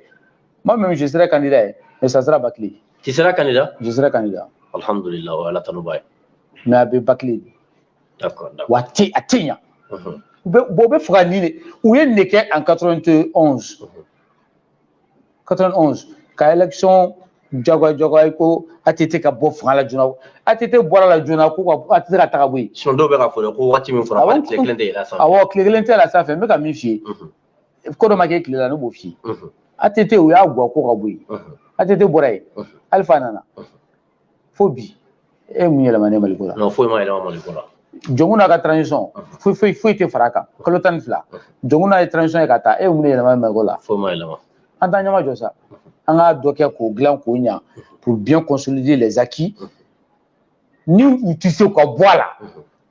moi même je serai candidat ye mais ça sera bâclé tu seras candidat je serai candidat alhamdulillah o ye ala tanuba ye mais a bɛ bâcler wa a tɛ a tɛ ɲa u bɛ bɔ u b'a fɛ ka nin de u ye nin de kɛ en 91 91 ka election jagoya jagoya ko ATT ka bɔ fanga la joona ATT bɔra la joona ko ka ATT ka taga bɔ yen. sinon dɔw bɛ ka fɔ dɛ ko waati min fɔra k'ale tile kelen tɛ yɛlɛ a sanfɛ. awɔ tile kelen tɛ yɛlɛ a sanfɛ n bɛ ka min f'i ye. ko dɔ ma k'e tile la ne b'o f'i ye. ATT u y'a gɔ ko ka bɔ yen. ATT bɔra yen. Alpha nana. fo bi e mun yɛlɛma ne maliko la foyi ma yɛlɛma maliko la jɔnkunda ka transition foyi foyi foyi tɛ fara a kan kalo tan ni fila jɔnkunda ye transition ye ka taa a ye mun yɛlɛma maliko la foyi ma yɛlɛma an t'an ɲɛmajɔ sa an ka dɔ kɛ k'o dilan k'o ɲa pour bien consolider les acquis ni u tɛ se ka bɔ a la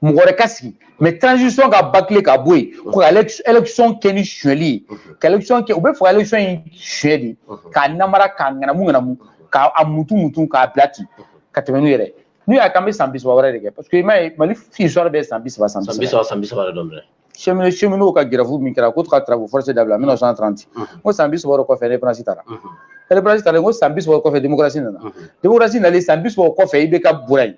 mɔgɔ wɛrɛ ka sigi mais transition ka bâcler ka bɔ yen ko ka election kɛ ni suyɛli ye ka election kɛ u b'a fɛ ka election in suyɛ de k'a namara k'a ŋanamu ŋanamu k'a mutu mutu k'a bila ten ka tɛmɛ n'u yɛrɛ n'u y'a k'an bɛ san bi saba wɛrɛ de kɛ parce que i m'a ye mali histoire bɛɛ san bi saba san bi saba san bi saba de don dɛ cheminot cheminot ka grève min kɛra ko ka travaux forcés dabila 1930 n ko san bi saba wɛrɛ kɔfɛ indépendance tara indépendance tara n ko san bi saba kɔfɛ démocratie nana démocratie nalen san bi saba kɔfɛ IBK bɔra yen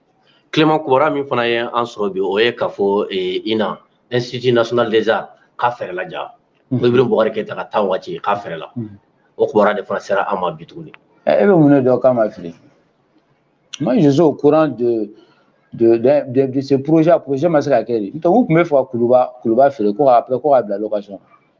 clément kubara min fana ye an sɔrɔ bi o ye k'a fɔ INA institut national des arts k'a feerela jaa ibrahim boubacar keyita ka temps waati k'a feerela o kubara de fana sera an ma bi tuguni e bɛ mun ne dɔn k'a ma feere moi je suis au courant de de, de, de, de ce projet projet ma se ka kɛ dɛ u tun b'a fɛ ka kuluba kuluba feere ko après ko k'a bila location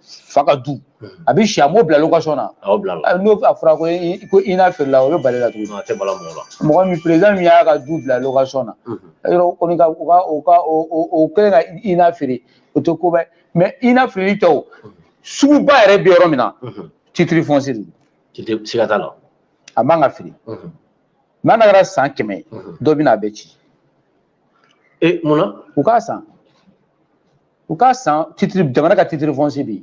fa ka du a bɛ si a m'o bila location na a y'o bila la n'o a fɔra ko ko INA feerela o bɛ bala i la tuguni a tɛ bala mɔgɔ la mɔgɔ min président min y'a ka du bila location na yɔrɔ kɔni ka u ka u ka o kɛlen ka INA feere o tɛ koba ye mais INA feerelen tɛ o suguba yɛrɛ bɛ yɔrɔ min na titre foncier de don siga t'a la a man ka feere n'a kɛra san kɛmɛ dɔ bɛ na a bɛ ci e mun na u k'a san u ka san titre jamana ka titre foncier bɛ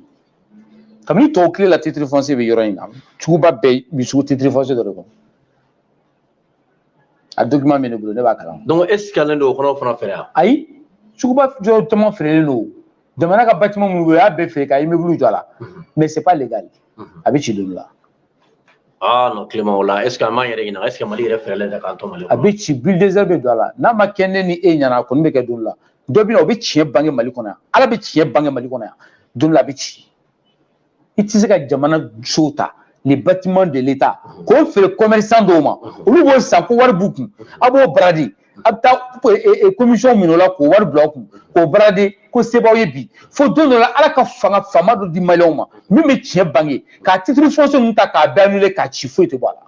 kabini tubabu tile la titre foncier bɛ yɔrɔ in na suguba bɛɛ bɛ sugu titre foncier dɔ de kɔnɔ a document bɛ ne bolo ne b'a kalan donc e sikalen don o kɔnɔ fana fɛ yan ayi suguba yɔrɔ caman feerelen don jamana ka bâtiment minnu bɛ yen u y'a bɛɛ feere ka immeuble jɔ a la mhm. mais c'est pas légal mhm. a bɛ ci don dɔ la ah non clément o la est ce que an b'an yɛrɛ ɲininka est ce que mali yɛrɛ feerela yɛrɛ k'an to mali kɔnɔ a bɛ ci bulldozer bɛ don a la n'a ma kɛ ne ni e ɲɛna a kɔni bɛ kɛ don la dɔ bɛ na o bɛ tiɲɛ bange mali kɔnɔ yan ala bɛ tiɲɛ bange mali kɔnɔ yan don la a bɛ ci i tɛ se ka jamana sow ta les bâtiments de l'État k'o feere commerçant dɔw ma olu b'o san ko wari b'u kun a b'o brader a bɛ taa commission minɛ o la k'o wari bila a kun k'o brader ko sebaw ye bi fo don dɔ la ala ka fanga faama dɔ di maliyɛnw ma min bɛ tiɲɛ bange ka titre foncier ninnu ta k'a bɛɛ annuler k'a ci foyi tɛ bɔ a la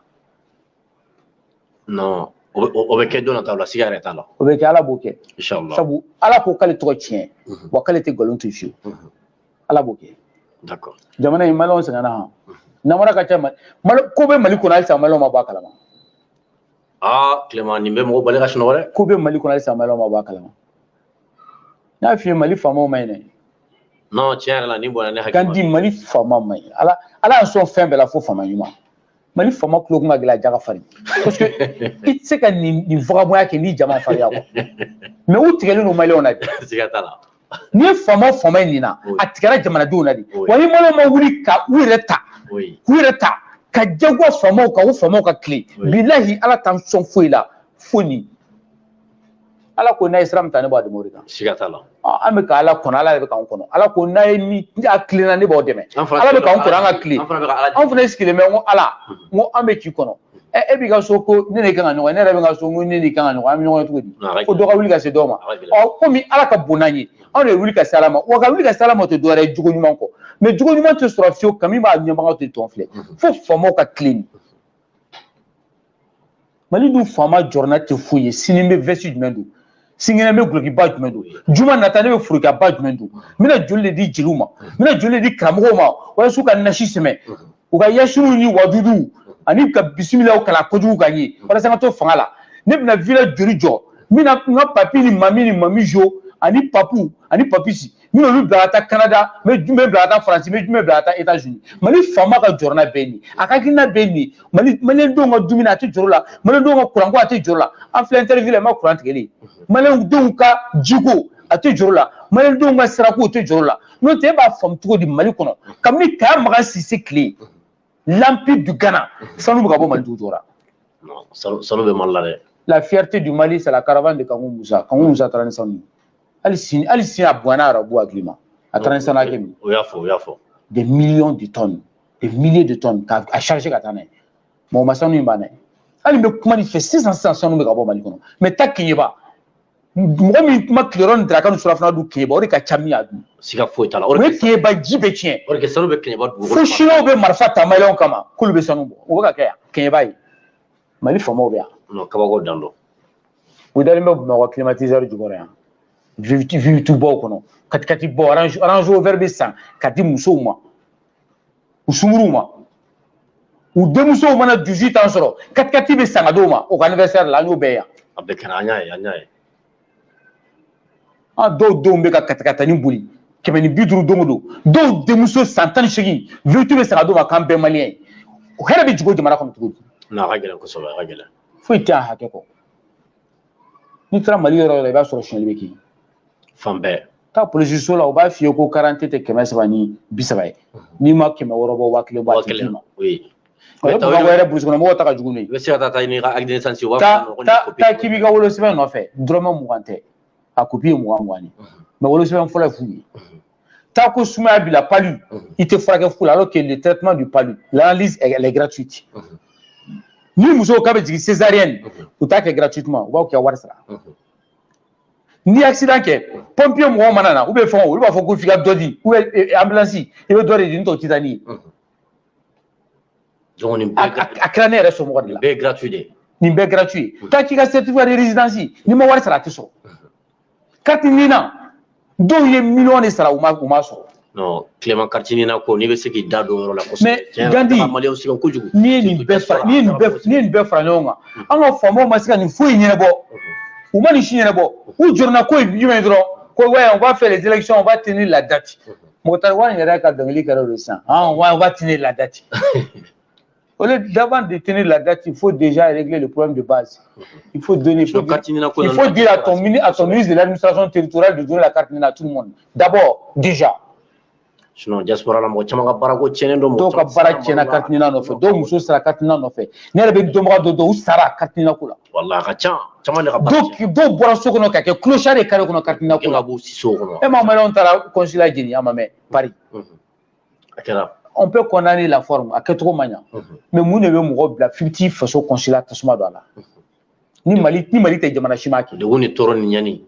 non o bɛ- o o bɛ kɛ don nataw la siga yɛrɛ t'a la o bɛ kɛ ala b'o kɛ inshallah sabu ala ko k'ale tɔgɔ tiɲɛ Mhm. wa k'ale tɛ nkalon to fiyewu Mhm. ala b'o kɛ d'accord jamana in maliyɛnw sɛgɛnna han namara ka ca mali mali ko bɛ mali kɔnɔ halisa maliyɛnw ma bɔ a kalama ah tilema nin bɛ mɔgɔ bali ka sunɔgɔ dɛ ko bɛ mali kɔnɔ halisa maliyɛnw ma bɔ a kalama n y'a f'i ye mali faamaw man ɲi dɛ non tiɲɛ yɛrɛ la nin bɔnna ne hakili kan ma di mali faama man ɲi ala ala y'an sɔn fɛn bɛɛ la fo faama ɲuman mali faama tulo kun ka gɛlɛn a ja ka farin parce que i tɛ se ka nin nin vagabɔnya kɛ n'i ja ma farinya kɔ mɛ u tigɛlen don maliyɛnw na bi n'i ye faama o faama ye nin na a tigɛra jamanadenw na de wa ni maliyɛnw ma wuli ka u yɛrɛ ta k'u yɛrɛ ta ka jagoya faamaw kan u faamaw ka tilen bilahi ala t'an sɔn foyi la fo nin ala ko n'a ye sira min ta ne b'a dɛmɛ o de kan siga t'a la an bɛ ka ala kɔnɔ ala yɛrɛ bɛ k'an kɔnɔ ala ko n'a ye ni a tilenna ne b'aw dɛmɛ ala bɛ k'an kɔnɔ an ka tilen anw fana sigilen bɛ n ko ala n ko an bɛ k'i kɔnɔ ɛ e b'i ka so ko ne de kan ka ɲɔgɔn ne yɛrɛ bɛ ka so ko ne de kan ka ɲɔgɔn an bɛ ɲɔgɔn cogo di fo dɔ ka wuli ka se dɔ ma ɔ komi ala ka bon n'an ye anw de wuli ka se ala ma wa ka wuli ka se ala ma tɛ dɔwɛrɛ ye jogo ɲuman kɔ mɛ jogo ɲuman tɛ sɔrɔ fiyewu kami b'a ɲɛbagaw de tɔn filɛ fo faamaw ka tilen mali dun faama jɔrɔna tɛ foyi ye sini n bɛ vɛsi jumɛn don sinikɛnɛ bɛ dulokiba jumɛn don juma nata ne bɛ forokaba jumɛn don n bɛna joli de di jeliw ma n bɛna joli de di karamɔgɔw ma walasa ka nasi sɛbɛn u ka yasinw ni waduduw ani ka bisimilaw kalan kojugu ka ye walasa n ka to fanga la ne bɛna vila joli jɔ n bɛna n ka papi ni mami ni mami jo ani papu ani papisi n y'olu bila ka taa kanada n bɛ jumɛn bila ka taa faransi n bɛ jumɛn bila ka taa etazini mali faama ka jɔrɔna bɛɛ nin a ka hakilina bɛɛ nin mali malidenw ka dumuni a tɛ jɔrɔ la malidenw ka kuranko a tɛ jɔrɔ la an filɛ interview la n ma kuran tigɛlen malidenw ka jiko a tɛ jɔrɔ la malidenw ka sirako a tɛ jɔrɔ la n'o tɛ e b'a faamu cogo di mali kɔnɔ kabini kaya magan sise tile l'empire du ghana sanu bɛ ka bɔ mali dugu jukɔrɔ sanu bɛ mali la dɛ la fierté du mali c'est la caravane de kanku musa kanku musa taara ni sanu ye hali sini hali sini a bonyana arabu hakili ma a taara ni sanu hakɛ min o y'a fɔ o y'a fɔ des millions de tonnes des milliers de tonnes k'a a charger ka taa n'a ye mɔgɔ ma sanu in banna ye hali n bɛ kuma nin fɔ sisan sisan sanu bɛ ka bɔ mali kɔnɔ mɛ taa keɲeba mɔgɔ min ma tilerɔ ni daraka ni surafana dun keɲeba o de ka ca min y'a dun siga foyi t'a la o de bɛ keɲeba ji bɛ tiɲɛ o de kɛ sanu bɛ keɲeba dugukolo fo sinuwaw bɛ marifa ta maliyɛnw kama k'olu bɛ sanu bɔ o bɛ ka kɛ yan keɲeba ye mali faamaw bɛ yan kabako dan don u dalen bɛ bamakɔ climatiseur jukɔrɔ yan vewutubaw kɔnɔ katikatibaw Range Rover bɛ san ka di musow ma u sunguruw ma u denmusow mana 18 ans sɔrɔ katikati bɛ san ka d'u ma u ka anniversaire la an y'o bɛɛ yan a bɛɛ kɛra an y'a ye an y'a ye a dɔw denw bɛ ka katakatani boli kɛmɛ ni bi duuru don o don dɔw denmuso san tan ni seegin vewutu bɛ san ka d'o ma k'an bɛɛ maliyɛn ye o hɛrɛ bɛ jigin o jamana kɔnɔ cogo di n'a ka gɛlɛn kosɛbɛ a ka gɛlɛn foyi tɛ a hakɛ kɔ n'i taara mali yɔrɔ o yɔrɔ i b'a sɔrɔ sonyali bɛ kɛ fan bɛɛ taa polisiso la u b'a f'i ye ko karidante tɛ kɛmɛ saba ni bi saba ye n'i ma kɛmɛ wɔɔrɔ bɔ waa kelen bɔ a tɛ d'i ma bamakɔ yɛrɛ burusikɔnɔmɔgɔw ta ka jugu ne i bɛ se ka taa taa ɲini ka acte de naissance ta k'i b'i ka wolosɛbɛn nɔfɛ dɔrɔmɛ mugan tɛ a kopi ye mugan mugan ye mais wolosɛbɛn fɔlɔ ye fu ye Tant que sumaya b'i la palu, mhm. i tɛ furakɛ fu alors que le traitement du palu, l'analyse, elle, est gratuite. Mhm. Ni muso k'a bɛ jigin césarienne mhm. u t'a kɛ gratuitement u b'aw kɛ wari sara ni accident kɛ pompier mɔgɔw mana na u bɛ fɛn o olu b'a fɔ ko f'i ka dɔ di u bɛ eh, ambulance i bɛ dɔ de di n'o tɛ u tɛ taa n'i ye a kɛra ne yɛrɛ somɔgɔ de la nin bɛɛ gratuit de nin bɛɛ gratuit tant k'i ka certificat de résidence n'i ma wari sara a tɛ sɔrɔ kariti nina dɔw ye miliyɔn de sara u ma u ma sɔrɔ non clément kariti nina ko n'i bɛ se k'i da don o yɔrɔ la kosɛbɛ mais gandi maliyɛnw sɛgɛnna kojugu n'i ye nin bɛɛ fara n'i ye nin bɛɛ n'i ye nin bɛɛ fara ɲɔgɔn kan mm. an ka faamaw ma se ka nin foyi ɲɛnabɔ mm-hmm. u ma nin si ɲɛnabɔ u jɔrɔna ko ye jumɛn ye dɔrɔn ko waya u b'a fɔ les élections on va tenir la date mm-hmm. Moctar Ouane yɛrɛ ka dɔnkili kɛra o de sisan han wa on va tenir la date Au lieu d'avant de tenir la date, il faut déjà régler le problème de base. Il faut donner. Il faut, dire, il faut dire à ton, à ton ministre de l'administration territoriale de donner la carte NINA à tout le monde. D'abord, déjà. Sinon, diaspora la mɔgɔ caman ka baarako tiɲɛnen don dɔw ka baara tiɲɛna carte NINA nɔfɛ dɔw muso sara carte NINA nɔfɛ ne yɛrɛ bɛ dɔnbaga dɔ dɔn u sara carte NINA ko la walayi a ka ca caman de ka baara dɔw dɔw bɔra so kɔnɔ ka kɛ clochard de kare kɔnɔ carte NINA ko la e ka bɔ siso kɔnɔ e ma maliyɛnw taara consulat jeni a ma mɛn Paris a kɛra on peut condamner la forme a kɛcogo ma ɲa mais mun de bɛ mɔgɔ bila f'i bɛ t'i faso consulat tasuma don a la ni mali ni mali tɛ jamana si m'a kɛ degun ni tɔɔrɔ ni ɲani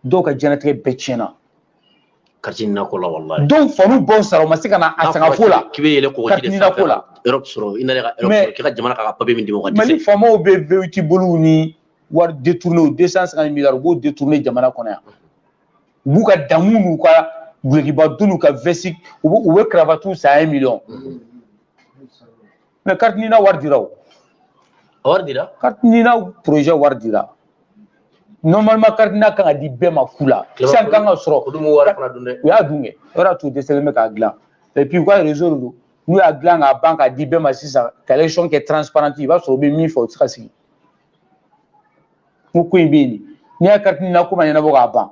dɔw ka diɲɛnatigɛ bɛɛ tiɲɛna kariti nina ko la walayi dɔw fa n'u ba sara u ma se ka na a sanga ko la k'i bɛ yɛlɛn kɔgɔji de sanfɛ ka Europe sɔrɔ i nana ka Europe sɔrɔ k'i ka jamana ka kan ka papier min d'i ma o ka dɛsɛ mali faamaw bɛ V8 boli ni wari détourner 250 milliards u b'o détourner jamana kɔnɔ yan u b'u ka damu n'u ka dulɔkiba don n'u ka vɛsi u bɛ u bɛ karabatiw san ye miliyɔn mais kariti nina wari dira o wari dira kariti nina porozɛ wari dira normalement kariti nina ka kan ka di bɛɛ ma fu la sisan k'an k'a sɔrɔ u y'a dun kɛ o yɛrɛ t'u dɛsɛlen bɛ k'a dilan et puis u ka réseau de don n'u y'a dilan k'a ban k'a di bɛɛ ma sisan ka élection kɛ transparente i b'a sɔrɔ u bɛ min fɛ o tɛ se ka sigi ko ko in bɛ yen n'i y'a carte NINA ko ma ɲɛnabɔ k'a ban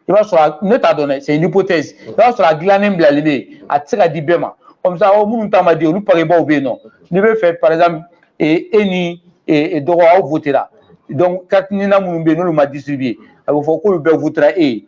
i b'a sɔrɔ ne t'a dɔn dɛ c'est une hypothèse i b'a sɔrɔ a dilannen bilalen bɛ yen a tɛ se ka di bɛɛ ma comme ça minnu ta ma di olu pakebaw bɛ yen nɔ n'i b'a fɛ par exemple e n'i dɔgɔ aw votera donc carte NINA minnu bɛ yen n'olu ma distribuer a bɛ fɔ k'olu bɛɛ votera e ye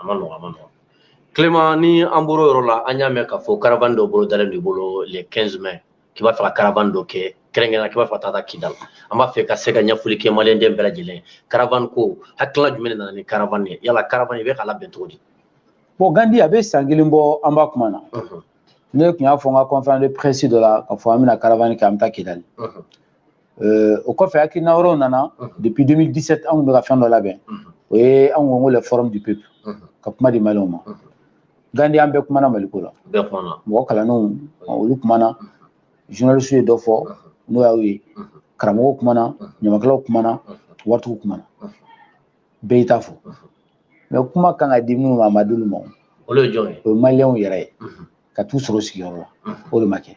a man nɔgɔ a man nɔgɔ clément ni an bɔr'o yɔrɔ la an y'a mɛn k'a fɔ caravane dɔ bolodalen b'i bolo le 15 mai k'i b'a fɛ ka caravane dɔ kɛ kɛrɛnkɛrɛnna k'i b'a fɛ ka taa taa kidal an b'a fɛ ka se ka ɲɛfɔli kɛ maliyɛnden bɛɛ lajɛlen caravane ko hakilila jumɛn de nana ni caravane ye yala caravane i bɛ k'a labɛn cogo di bon gandi a bɛ san kelen bɔ an b'a kuma na ne tun y'a fɔ n ka conférence de presse dɔ la k'a fɔ an bɛna caravane kɛ an bɛ taa kidali euh, o kɔfɛ hakilina wɛrɛw nana mhm. depuis 2017 anw bɛ ka fɛn dɔ labɛn mhm. o ye anw ko ko le forum du peuple mhm. ka kuma di maliyɛnw ma gandi an bɛɛ kumana maliko la mɔgɔ kalannenw olu kumana journaliste ye dɔ fɔ n'o y'aw ye karamɔgɔw kumana ɲamakalaw kumana waritigiw kumana bɛɛ y'i ta fɔ mais kuma kan ka di minnu ma a ma d'olu ma o ye maliyɛnw yɛrɛ ye ka t'u sɔrɔ u sigiyɔrɔ la o de ma kɛ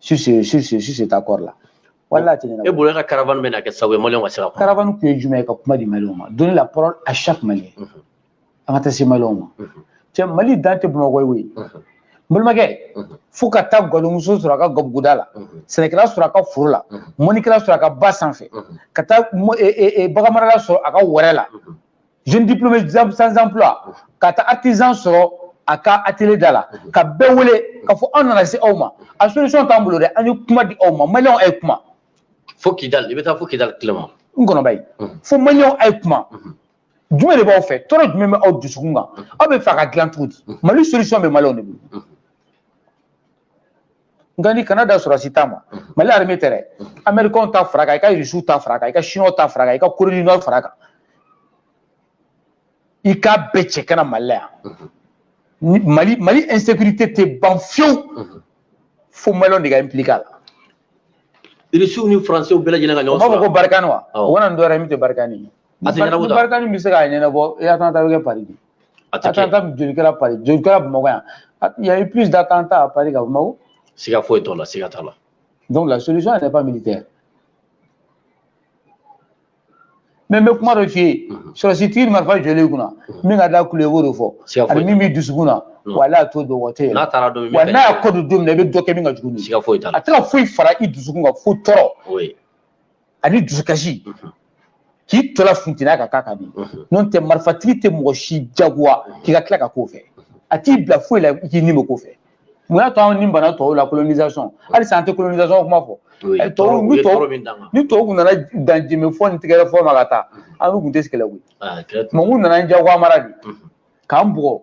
sur ce, sur ce, sur cet accord-là. Voilà, an bɛ ka caravane min kɛ sa, malien, on va se Caravane kun ye jumɛn ka kuma di maliyɛn ma, donner la parole à chaque malien. Mhm. An ka taa se maliyɛnw ma, mhm. cɛ, Mali dan tɛ Bamako ye. Mhm. N balimakɛ fo ka taa gadonmuso sɔrɔ a ka gabuguda la sɛnɛkɛla sɔrɔ a ka foro la mɔnnikɛla sɔrɔ a ka ba sanfɛ ka taa baganmarala sɔrɔ a ka wɛrɛ la jeune diplômé sans emploi ka taa artisan sɔrɔ a ka atelier da la ka bɛɛ wele k'a fɔ an nana se aw ma a solution t'an bolo dɛ an ye kuma di aw ma maliyɛnw a ye kuma fo kidali i bɛ taa fo kidali clément n kɔnɔba ye fo maliyɛnw a ye kuma jumɛn de b'aw fɛ tɔɔrɔ jumɛn bɛ aw dusukun kan aw b'a fɛ a ka dilan cogo di mali solution bɛ maliyɛnw de bolo nka ni kanada sɔrɔsi ta ma mali arime tɛ dɛ amɛrikɛnw ta fara kan i ka irisiw ta fara kan i ka siniw ta fara kan i ka corée du nord fara kan i k'a bɛɛ cɛ ka na mali la yan mali mali insécurité tɛ ban fewu fo maliyɛnw de ka impliqué a la irisiw ni faransiw bɛɛ lajɛlen ka ɲɔgɔn sɔrɔ u b'a fɔ ko barikani wa u ka na ni dɔwɛrɛ min tɛ barikani ye barikani bɛ se k'a ɲɛnabɔ attentat bɛ kɛ pari de a tɛ kɛ attentat joli kɛra Paris joli kɛra Bamakɔ yan il y a eu plus d'attentats à Paris qu'à Bamakɔ siga foyi t'o la siga t'a la donc la solution n'est pas militaire mais n bɛ kuma dɔ f'i ye mhm. sɔrɔsi tigi ni marifa jɔlen i kunna mhm. min ka d'a tulo la i b'o de fɔ ani min b'i dusukun na mhm. wa n'a t'o dɔn wa tɛ yɛlɛ wa n'a y'a kɔ don don min na i bɛ dɔ kɛ min ka jugu ni a tɛ ka foyi fara i dusukun kan fo tɔɔrɔ ani dusukasi k'i tola funteniya ka k'a kan de n'o tɛ marifatigi tɛ mɔgɔ si jagoya k'i ka tila ka k'o fɛ a t'i bila foyi la i k'i ni bɛ k'o fɛ mun y'a to anw ni banna tɔw la colonisation halisa an tɛ colonisation kuma fɔ tɔw ni tɔw ni tɔw kun nana dan jenbefɔ ni tɛgɛrɛfɔ ma ka taa an kun tɛ kɛlɛ koyi tubabu nana jagoyamara de k'an bugɔ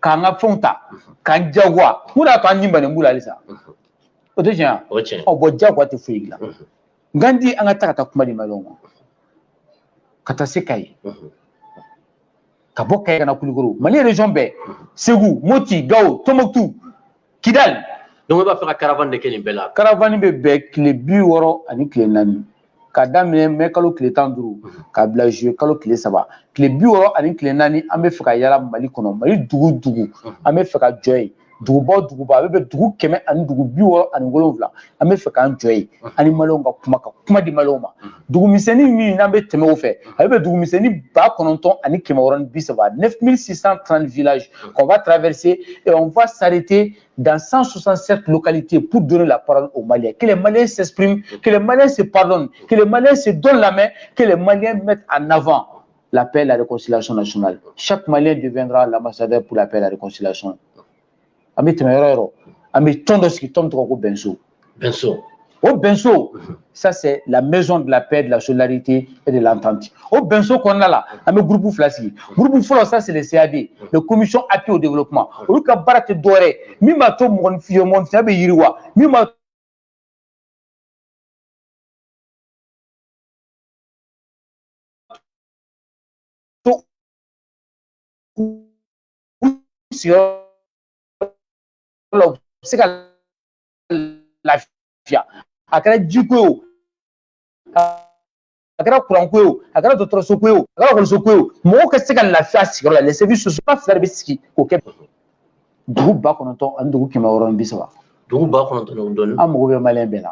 k'an ka fɛnw ta k'an jagoya mun y'a to an ni bannen b'u la halisa o tɛ tiɲɛ wa ɔ bɔn jagoya tɛ foyi la Gandi an ka taa ka taa kuma di maliyɛnw ma ka taa se kayi ka bɔ kayi ka na kulukoro mali région bɛɛ segu moti gawo tonbuktu kidali donc i b'a fɛ ka caravane de kɛ nin bɛɛ la caravane bɛ bɛn tile bi wɔɔrɔ ani tile naani ka daminɛ mɛ kalo tile tan duuru ka bila juye kalo tile saba tile bi wɔɔrɔ ani tile naani an bɛ fɛ ka yala mali kɔnɔ mali dugu dugu an bɛ fɛ ka jɔ yen dugubaw duguba a bɛ bɛn dugu kɛmɛ ani dugu bi wɔɔrɔ ani wolonwula an bɛ fɛ k'an jɔ yen an ni maliyɛnw ka kuma ka kuma di maliyɛnw ma dugumisɛnnin min n'an bɛ tɛmɛ o fɛ a bɛ bɛn dugumisɛnnin ba kɔnɔntɔn ani kɛmɛ wɔɔrɔ ni bi saba neuf mille six cent trente villages qu'on va traverser et on va s'arrêter dans 167 localités pour donner la parole aux Maliens. Que les Maliens s'expriment, que les Maliens se pardonnent, que les Maliens se donnent la main, que les Maliens mettent en avant la paix et la réconciliation nationale. Chaque Malien deviendra l'ambassadeur pour la paix et la réconciliation. An bɛ tɛmɛ yɔrɔ yɔrɔ an bɛ tɔn dɔ sigi tɔn tɔgɔ ko bɛnso. Bɛnso. O bɛnso ça c'est la maison de la paix de la solidarité et de l'entente. O bɛnso kɔnɔna la an bɛ groupe fila sigi. Groupe fɔlɔ ça c'est le CAD, le commission appui au développement. Olu ka baara tɛ dɔwɛrɛ ye min b'a to mɔgɔninfin mɔgɔninfinya bɛ yiriwa min b'a se ka lafiya a kɛra jiko ye o a kɛra kuranko ye o a kɛra dɔgɔtɔrɔsoko ye o a kɛra ekɔlisoko ye o mɔgɔw ka se ka lafiya sigiyɔrɔ la lɛsɛbi soso ba fila de bɛ sigi k'o kɛ dugu ba kɔnɔntɔn ani dugu kɛmɛ wɔɔrɔ ni bi saba dugu ba kɔnɔntɔn ni dɔɔnin an mago bɛ maliyɛn bɛɛ la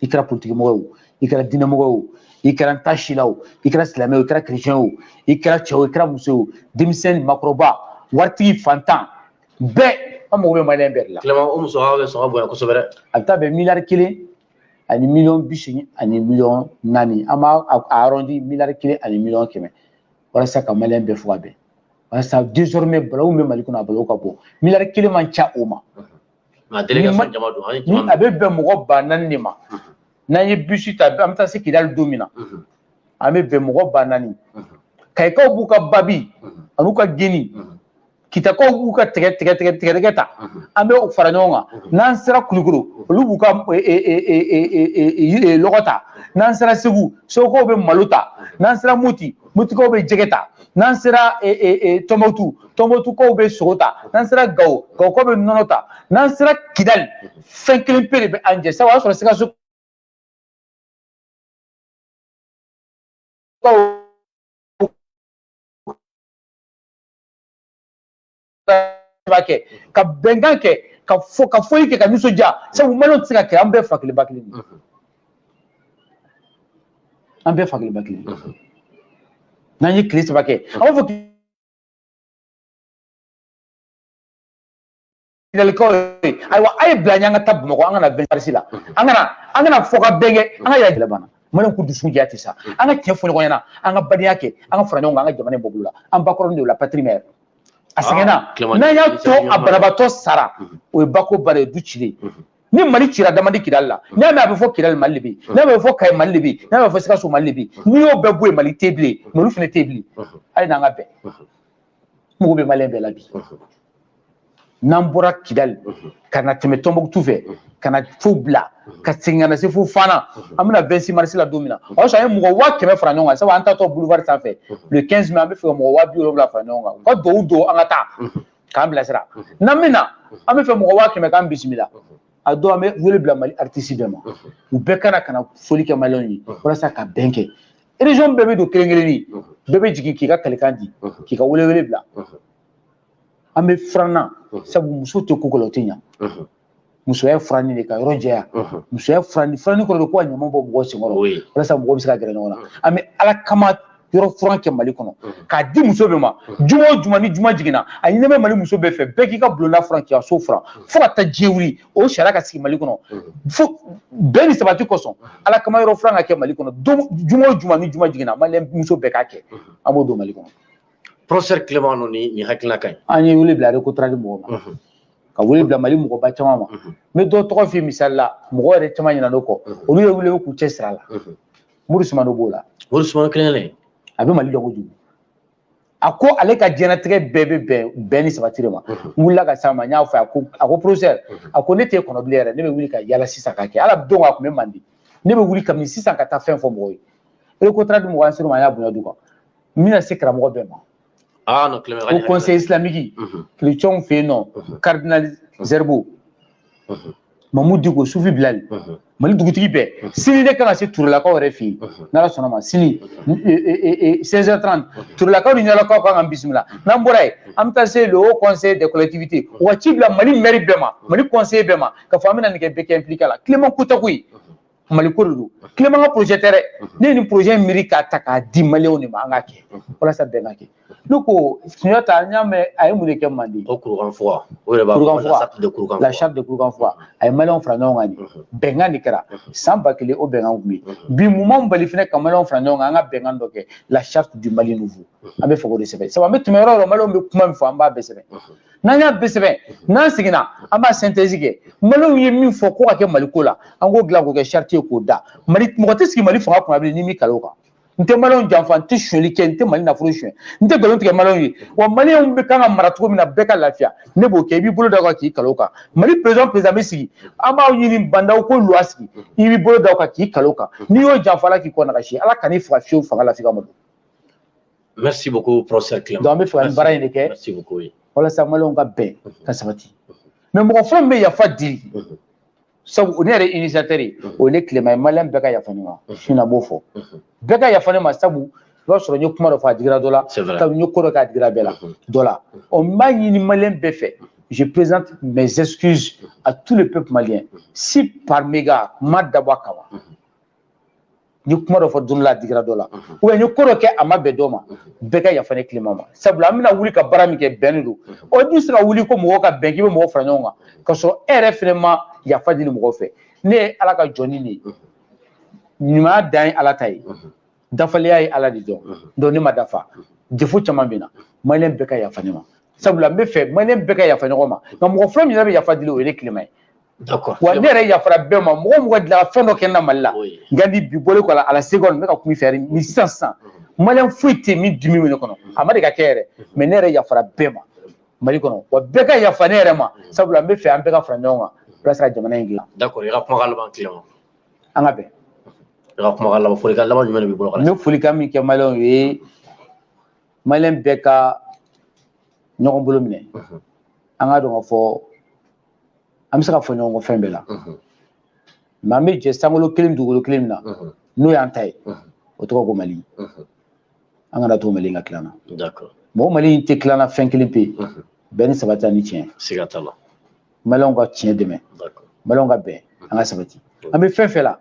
i kɛra politikimɔgɔ o i kɛra diinɛmɔgɔ o i kɛra n t'a si la o i kɛra silamɛ o i kɛra kerecɛn o i kɛra cɛ o i kɛra muso o denmisɛn ni maakɔrɔba waritigi fantan bɛɛ an mago bɛ maliyɛn bɛɛ de la. tilema o musaka bɛ sɔn ka bonya kosɛbɛ dɛ. a bɛ taa bɛn miliyari kelen ani miliyɔn bi seegin ani miliyɔn naani an b'a a arɔndi miliyari kelen ani miliyɔn kɛmɛ walasa ka maliyɛn bɛɛ fo ka bɛn walasa désormais balawu bɛ mali kɔnɔ a balawu ka bɔ miliyari kelen man ca o ma. a bɛ bɛn mɔgɔ ba naani de ma n'an ye bisi ta an bɛ taa se kidali don min na an bɛ bɛn mɔgɔ ba naani kayikaw b'u ka babi an'u ka geni kitakaw b'u ka tigɛ tigɛdɛgɛ ta an bɛ u fara ɲɔgɔn kan n'an sera kulukoro olu b'u ka lɔgɔ ta n'an sera segu segukaw bɛ malo ta n'an sera moti motikaw bɛ jɛgɛ ta n'an sera e, e, e, tɔnbɔtu tɔnbɔtukaw bɛ sogo ta n'an sera gawo gawokaw bɛ nɔnɔ ta n'an sera kidali fɛn kelen pe de bɛ an jɛ sabu o y'a sɔrɔ sikaso kɛ ka bɛnkan kɛ ka fɔ ka fɔli kɛ ka nisɔndiya sabu mali tɛ se ka kɛ an bɛɛ fa kelen ba kelen de an bɛɛ fa kelen ba kelen n'an ye tile saba kɛ an b'a fɔ ɲininkalikanw ye ayiwa a ye bila an ka taa bamakɔ an kana bɛnkarisi la an kana an kana fɔ ka bɛn kɛ an ka yɛrɛ gɛlɛ banna maliw ko dusu diya tɛ sa an ka tiɲɛ fɔ ɲɔgɔn ɲɛna an ka badenya kɛ an ka fara ɲɔgɔn kan an ka jamana in bɔ bolo la an ba kɔrɔnin de la patrie mère a sɛgɛnna n'an y'a to a banabaatɔ sara o ye bako bannen ye du cilen ni mali cira d'a man di kidali la n'a mɛ a bɛ fɔ kidali mali de bi n'a bɛ fɔ kayi mali de bi n'a bɛ fɔ sikaso mali de bi n'i y'o bɛɛ bɔ yen mali tɛ bilen mali fana tɛ bilen hali n'an ka bɛn mago bɛ maliyɛn bɛɛ la bi n'an bɔra kidali ka na tɛmɛ tɔnbukutu fɛ ka na fo bila ka segin ka na se fo fana an bɛna 26 mars la don min na o y'a sɔrɔ an ye mɔgɔ waa kɛmɛ fara ɲɔgɔn kan sabu an taatɔ boulevard sanfɛ le 15 mai an bɛ fɛ ka mɔgɔ waa bi wolonwula fara ɲɔgɔn kan u ka duwawu don an ka taa k'an bilasira n'an bɛ na an bɛ fɛ mɔgɔ waa kɛmɛ k'an bisimila a don an bɛ wele bila mali aritisi bɛɛ ma u bɛɛ ka na ka na fɔli kɛ maliyɛnw ye walasa ka bɛn kɛ région bɛɛ bɛ don kelen kelenni bɛɛ bɛ jigin k'i ka kalikan di k'i ka welewele bila an bɛ furan na sabu muso tɛ ko o ko la o tɛ ɲa musoya furanni de ka yɔrɔ jɛya musoya furanni furanni kɔrɔ de ko ka ɲama bɔ mɔgɔ senkɔrɔ walasa mɔgɔ bɛ se ka gɛrɛ ɲɔgɔn na an bɛ ala kama yɔrɔ furan kɛ mali kɔnɔ k'a di muso bɛɛ ma juma o juma ni juma jiginna a ɲininen bɛ mali muso bɛɛ fɛ bɛɛ k'i ka bulonda furan k'i ka so furan fo ka taa diɲɛ wuli o sariya ka sigi mali kɔnɔ fo bɛn ni sabati kosɔn ala kama yɔrɔ furan ka kɛ mali kɔnɔ juma o juma ni juma jiginna mali muso bɛɛ k'a kɛ an b'o don mali kɔnɔ professeur Clément ninnu ni nin hakilina ka ɲi an ye wele bila recotrade mɔgɔ ma ka wele bila mali mɔgɔba caman ma n bɛ dɔ tɔgɔ f'i misali la mɔgɔ yɛrɛ caman ɲinan'u kɔ olu ye wuli k'u cɛ sir'a la mori sumano b'o la mori sumano kelen a bɛ mali dɔn kojugu a ko ale ka diɲɛnatigɛ bɛɛ bɛ bɛn bɛn ni sabati de ma n wulila ka s'a ma n y'a fɔ a ko a ko professeur a ko ne tɛ kɔnɔ bilen yɛrɛ ne bɛ wuli ka yala sisan ka kɛ ala don a tun bɛ manden ne bɛ wuli kabini sisan ka taa fɛn fɔ mɔgɔw ye recotrade mɔgɔ an ser'o ma an y'a bonya d'u kan n bɛna se karamɔgɔ bɛɛ ma ah, no, haut conseil islamique kerecɛnw fɛ yen nɔ cardinal zerbo mahmoud dicko sufi bilali mali dugutigi bɛɛ sini ne kan ka se turelakaw yɛrɛ fɛ yen n'ala sɔnna ma sini 16h30 turelakaw ni ɲarelakaw kan k'an bisimila n'an bɔra yen an bɛ taa se le haut conseil des collectivités u ka ci bila mali mɛri bɛɛ ma mali conseiller bɛɛ ma k'a fɔ an bɛna nin kɛ bɛɛ ka impliqué a la Clément ko tɛ koyi mali ko de don Clément ka projet tɛ dɛ ne ye nin projet miiri k'a ta k'a di maliyɛnw de ma an k'a kɛ walasa bɛn ka kɛ ne ko sunjata n y'a mɛn a ye mun de kɛ manden o kurukan fuga o yɛrɛ b'a fɔ la charte de kurukan fuga a ye maliyɛnw fara ɲɔgɔn kan de bɛnkan de kɛra san ba kelen o bɛnkan tun bɛ yen bi mun b'an bali fana ka maliyɛnw fara ɲɔgɔn kan an ka bɛnkan dɔ kɛ la charte du mali nouveau an bɛ fɛ k'o de sɛbɛn sabu an bɛ tɛmɛ yɔrɔ o yɔrɔ maliyɛnw bɛ kuma min fɔ an b'a bɛɛ sɛbɛn n'an y'a bɛɛ sɛbɛn n'an seginna an b'a synthèse kɛ maliyɛnw ye min fɔ ko ka kɛ mali ko la an k'o dilan k'o kɛ charte ye k'o da mali mɔgɔ tɛ sigi mali fanga kunna bilen n'i m'i kali o kan n tɛ maliyɛnw janfa n tɛ sonyali kɛ n tɛ mali nafolo sonyɛ n tɛ nkalon tigɛ maliyɛnw ye wa maliyɛnw bɛ kan ka mara cogo min na bɛɛ ka lafiya ne b'o kɛ i b'i bolo da o kan k'i kali o kan mali président président bɛ sigi an b'a ɲini bandaw kuluba sigi i b'i bolo da o kan k'i kali o kan n'i y'o janfa ala k'i kɔ nagasi ala kan'i faga fiyewu fanga la f'i ka malo merci beaucoup professeur Clément donc an bɛ fɛ ka nin baara in de kɛ merci beaucoup oui walasa maliyɛnw ka bɛn ka sabati mais mɔgɔ fɔlɔ min bɛ yafa deli Mhm. sabu o ne yɛrɛ initiateur ye Mhm. o ye ne Clément ye maliyɛn bɛɛ ka yafa ne ma Mhm. su in na n b'o fɔ Mhm. bɛɛ ka yafa ne ma sabu i b'a sɔrɔ n ye kuma dɔ fɔ a digira dɔ la c'est vrai kabini n ye ko dɔ kɛ a digira bɛɛ la Mhm. dɔ la ɔ n b'a ɲini maliyɛn bɛɛ fɛ je présente mes excuses à tout le peuple malien si par mégarde n m'a dabɔ a kama Mhm. n ye kuma dɔ fɔ don la a digira dɔ la ou bien n ye ko dɔ kɛ a ma bɛn dɔ ma bɛɛ ka yafa ne Clément ma sabula an bɛna wuli ka baara min kɛ bɛn de don i dun tɛ se ka wuli ko mɔgɔ ka bɛn k'i bɛ mɔgɔ fara ɲɔgɔn kan ka sɔrɔ e yɛrɛ fɛnɛ ma yafa deli mɔgɔ fɛ ne ye ala ka jɔni de ye ɲumanya dan ye ala ta ye dafalenya ye ala de dɔrɔn don ne ma dafa défaut caman bɛ n na maliyɛn bɛɛ ka yafa ne ma sabula n bɛ fɛ maliyɛn bɛɛ ka yafa ɲɔgɔn ma nka mɔgɔ fɔlɔ min yɛrɛ bɛ yafa deli o ye ne Clément ye wa ne yɛrɛ yafara bɛɛ ma mɔgɔ o mɔgɔ delila ka fɛn dɔ kɛ n na mali la nka ni bi bolo kɔ ala se kɔni ne ka kun fɛ ni sisan sisan maliyɛn foyi tɛ min dimi bɛ ne kɔnɔ a ma deli ka kɛ yɛrɛ mɛ ne yɛrɛ yafara bɛɛ ma mali kɔnɔ wa bɛɛ ka yafa ne yɛrɛ ma sabula n bɛ fɛ an bɛɛ ka fara ɲɔgɔn kan walasa jamana in dilan d'accord i ka kuma laban Clément an ka bɛn i ka kuma laban folikan laban jumɛn de b'i bolo n bɛ folikan min kɛ maliyɛnw ye maliyɛn bɛɛ ka ɲɔgɔn bolo minɛ an k'a dɔn k'a fɔ an bɛ se ka fɔ ɲɔgɔn kɔ fɛn bɛɛ la mais an bɛ jɛ sankolo kelen dugukolo kelen min na n'o y'an ta ye o tɔgɔ ko mali an kana to mali ka tila an na mɔgɔ mali in tɛ tila an na fɛn kelen pe bɛn ni sabati ani tiɲɛ siga t'a la maliyɛnw ka tiɲɛ dɛmɛ maliyɛnw ka bɛn an ka sabati an bɛ fɛn fɛn la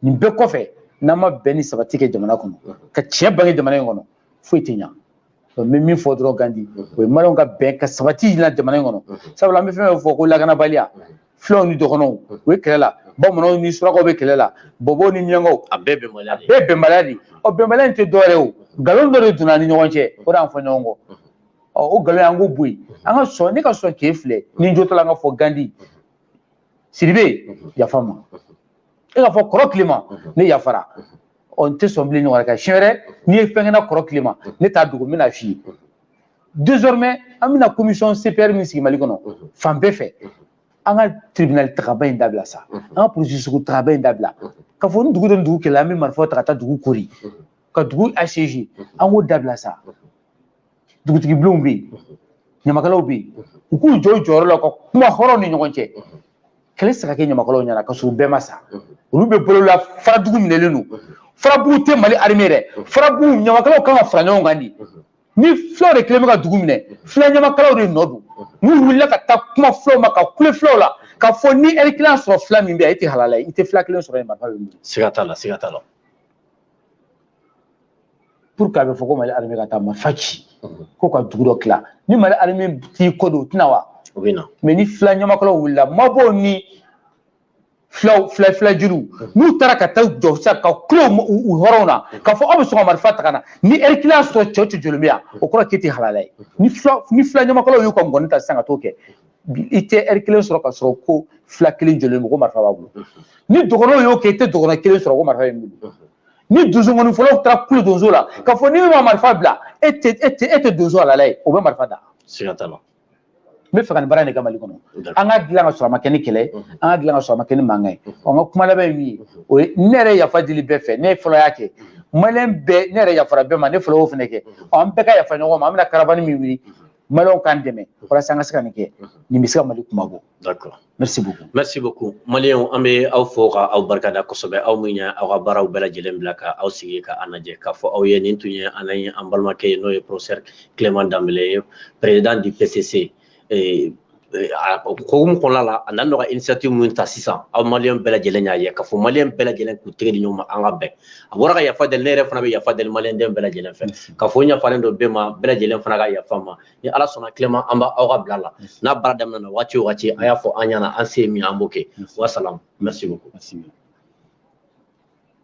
nin bɛɛ kɔfɛ n'an ma bɛn ni sabati kɛ jamana kɔnɔ ka tiɲɛ bange jamana in kɔnɔ foyi tɛ ɲa n bɛ min fɔ dɔrɔn gandi o ye maliyɛnw ka bɛn ka sabati jira jamana in kɔnɔ sabula an bɛ fɛn fɛn fɔ ko lakanabaliya filaw ni dɔgɔnɔw o ye kɛlɛ la bamananw ni surakaw bɛ kɛlɛ la bɔbɔw ni miyankaw a bɛɛ bɛnbaliya de bɛɛ bɛnbaliya de ɔ bɛnbaliya in tɛ dɔwɛrɛ o nkalon dɔ de donna an ni ɲɔgɔn cɛ o de y'an fɔ ɲɔgɔn kɔ ɔ o nkalon an k'o bɔ yen an ka sɔn ne ka sɔn k'e filɛ ni n jo t'a la an ka fɔ gandi siribe yafa n ma e ka fɔ kɔrɔ clément ne yafara ɔ n tɛ sɔn bilen ɲɔgɔn ka siɲɛ wɛrɛ n'i ye fɛn kɛ n na kɔrɔ clément ne t'a dogo n bɛna f'i ye désormais an bɛna commission CPR min sigi Mali kɔnɔ fan bɛɛ fɛ an ka tribunal tagaba in dabila sa an ka polisi sugu tagaba in dabila ka fɔ ni dugu dɔ ni dugu kɛlɛla an bɛ marifaw ta ka taa dugu kori ka dugu assiéger an k'o dabila sa dugutigi bulonw bɛ yen ɲamakalaw bɛ yen u k'u jɔ u jɔyɔrɔ la u ka kuma hɔrɔnw ni ɲɔgɔn cɛ kɛlɛ tɛ se ka kɛ ɲamakalaw ɲɛna ka sɔrɔ u bɛɛ ma sa olu bɛ balo la farabugu minɛlen don farabugu tɛ mali armée dɛ farabugu ɲamakalaw kan ka fara ɲɔgɔn kan de ni fulaw de kelen bɛ ka dugu minɛ fula ɲamakalaw de nɔ don n'u wulila ka taa kuma fulaw ma ka kule fulaw la k'a fɔ ni ɛri kelen sɔrɔ fila min bɛ yen e tɛ halala ye i tɛ fila kelen sɔrɔ yen marifa bɛ wuli siga t'a la siga t'a la pour que a bɛ fɔ ko mali armée ka taa marifa ci ko ka dugu dɔ tila ni mali armée t'i kɔ don o tɛ na wa o bɛ na mais ni fila ɲamakalaw wulila mabɔw ni filaw fila fila jeliw n'u taara ka taa jɔ sa ka kulo u hɔrɔnw na k'a fɔ aw bɛ sɔn ka marifa ta ka na ni ɛri kelen y'a sɔrɔ cɛ cɛ jɔlen bɛ yan o kɔrɔ k'e tɛ halala ye ni fila ni fila ɲamakalaw y'u ka ngɔni ta sisan ka t'o kɛ i tɛ ɛri kelen sɔrɔ ka sɔrɔ ko fila kelen jɔlen mɔgɔ marifa b'a bolo ni dɔgɔnɔw y'o kɛ i tɛ dɔgɔnɔ kelen sɔrɔ ko marifa bɛ min bolo ni donsongɔni fɔla taara kulo donso la ka fɔ ni min ma marifa bila e tɛ e tɛ e tɛ donso halala ye o bɛ marifa da siga t'a la n b'a fɛ ka nin baara in de kɛ mali kɔnɔ an k'a dilan ka sɔrɔ a ma kɛ ni kɛlɛ an k'a dilan ka sɔrɔ a ma kɛ ni mankan ye ɔ n ka kuma laban ye min ye o ye ne yɛrɛ yafa deli bɛɛ fɛ ne fɔlɔ y'a kɛ maliyɛn bɛɛ ne yɛrɛ yafara bɛɛ ma ne fɔlɔ y'o fana kɛ ɔ an bɛɛ ka yafa ɲɔgɔn ma an bɛna caravane min wuli maliyɛnw k'an dɛmɛ walasa an ka se ka nin kɛ nin bɛ se ka mali kunmabɔ d'accord merci beaucoup merci beaucoup maliyɛnw an bɛ aw fo ka aw barikada kosɛbɛ aw min ye aw ka baaraw bɛɛ lajɛlen bila ka aw sigi ka an lajɛ k'a fɔ aw ye nin tun ye an ye an balimakɛ ye n'o ye professeur clément dembélé ye président du pcc hukumu kɔnɔna la a nana ka initiative min ta sisan aw maliyɛn bɛɛ lajɛlen y'a ye k'a fɔ maliyɛn bɛɛ lajɛlen k'u tɛgɛ di ɲɔgɔn ma an ka bɛn a bɔra ka yafa deli ne yɛrɛ fana bɛ yafa deli maliyɛn den bɛɛ lajɛlen fɛ k'a fɔ n yafalen don bɛɛ ma bɛɛ lajɛlen fana ka yafa n ma ni ala sɔnna tilema an b'aw ka bila la n'a baara daminɛna waati o waati a y'a fɔ an ɲɛna an se min ye an b'o kɛ wasalaam merci beaucoup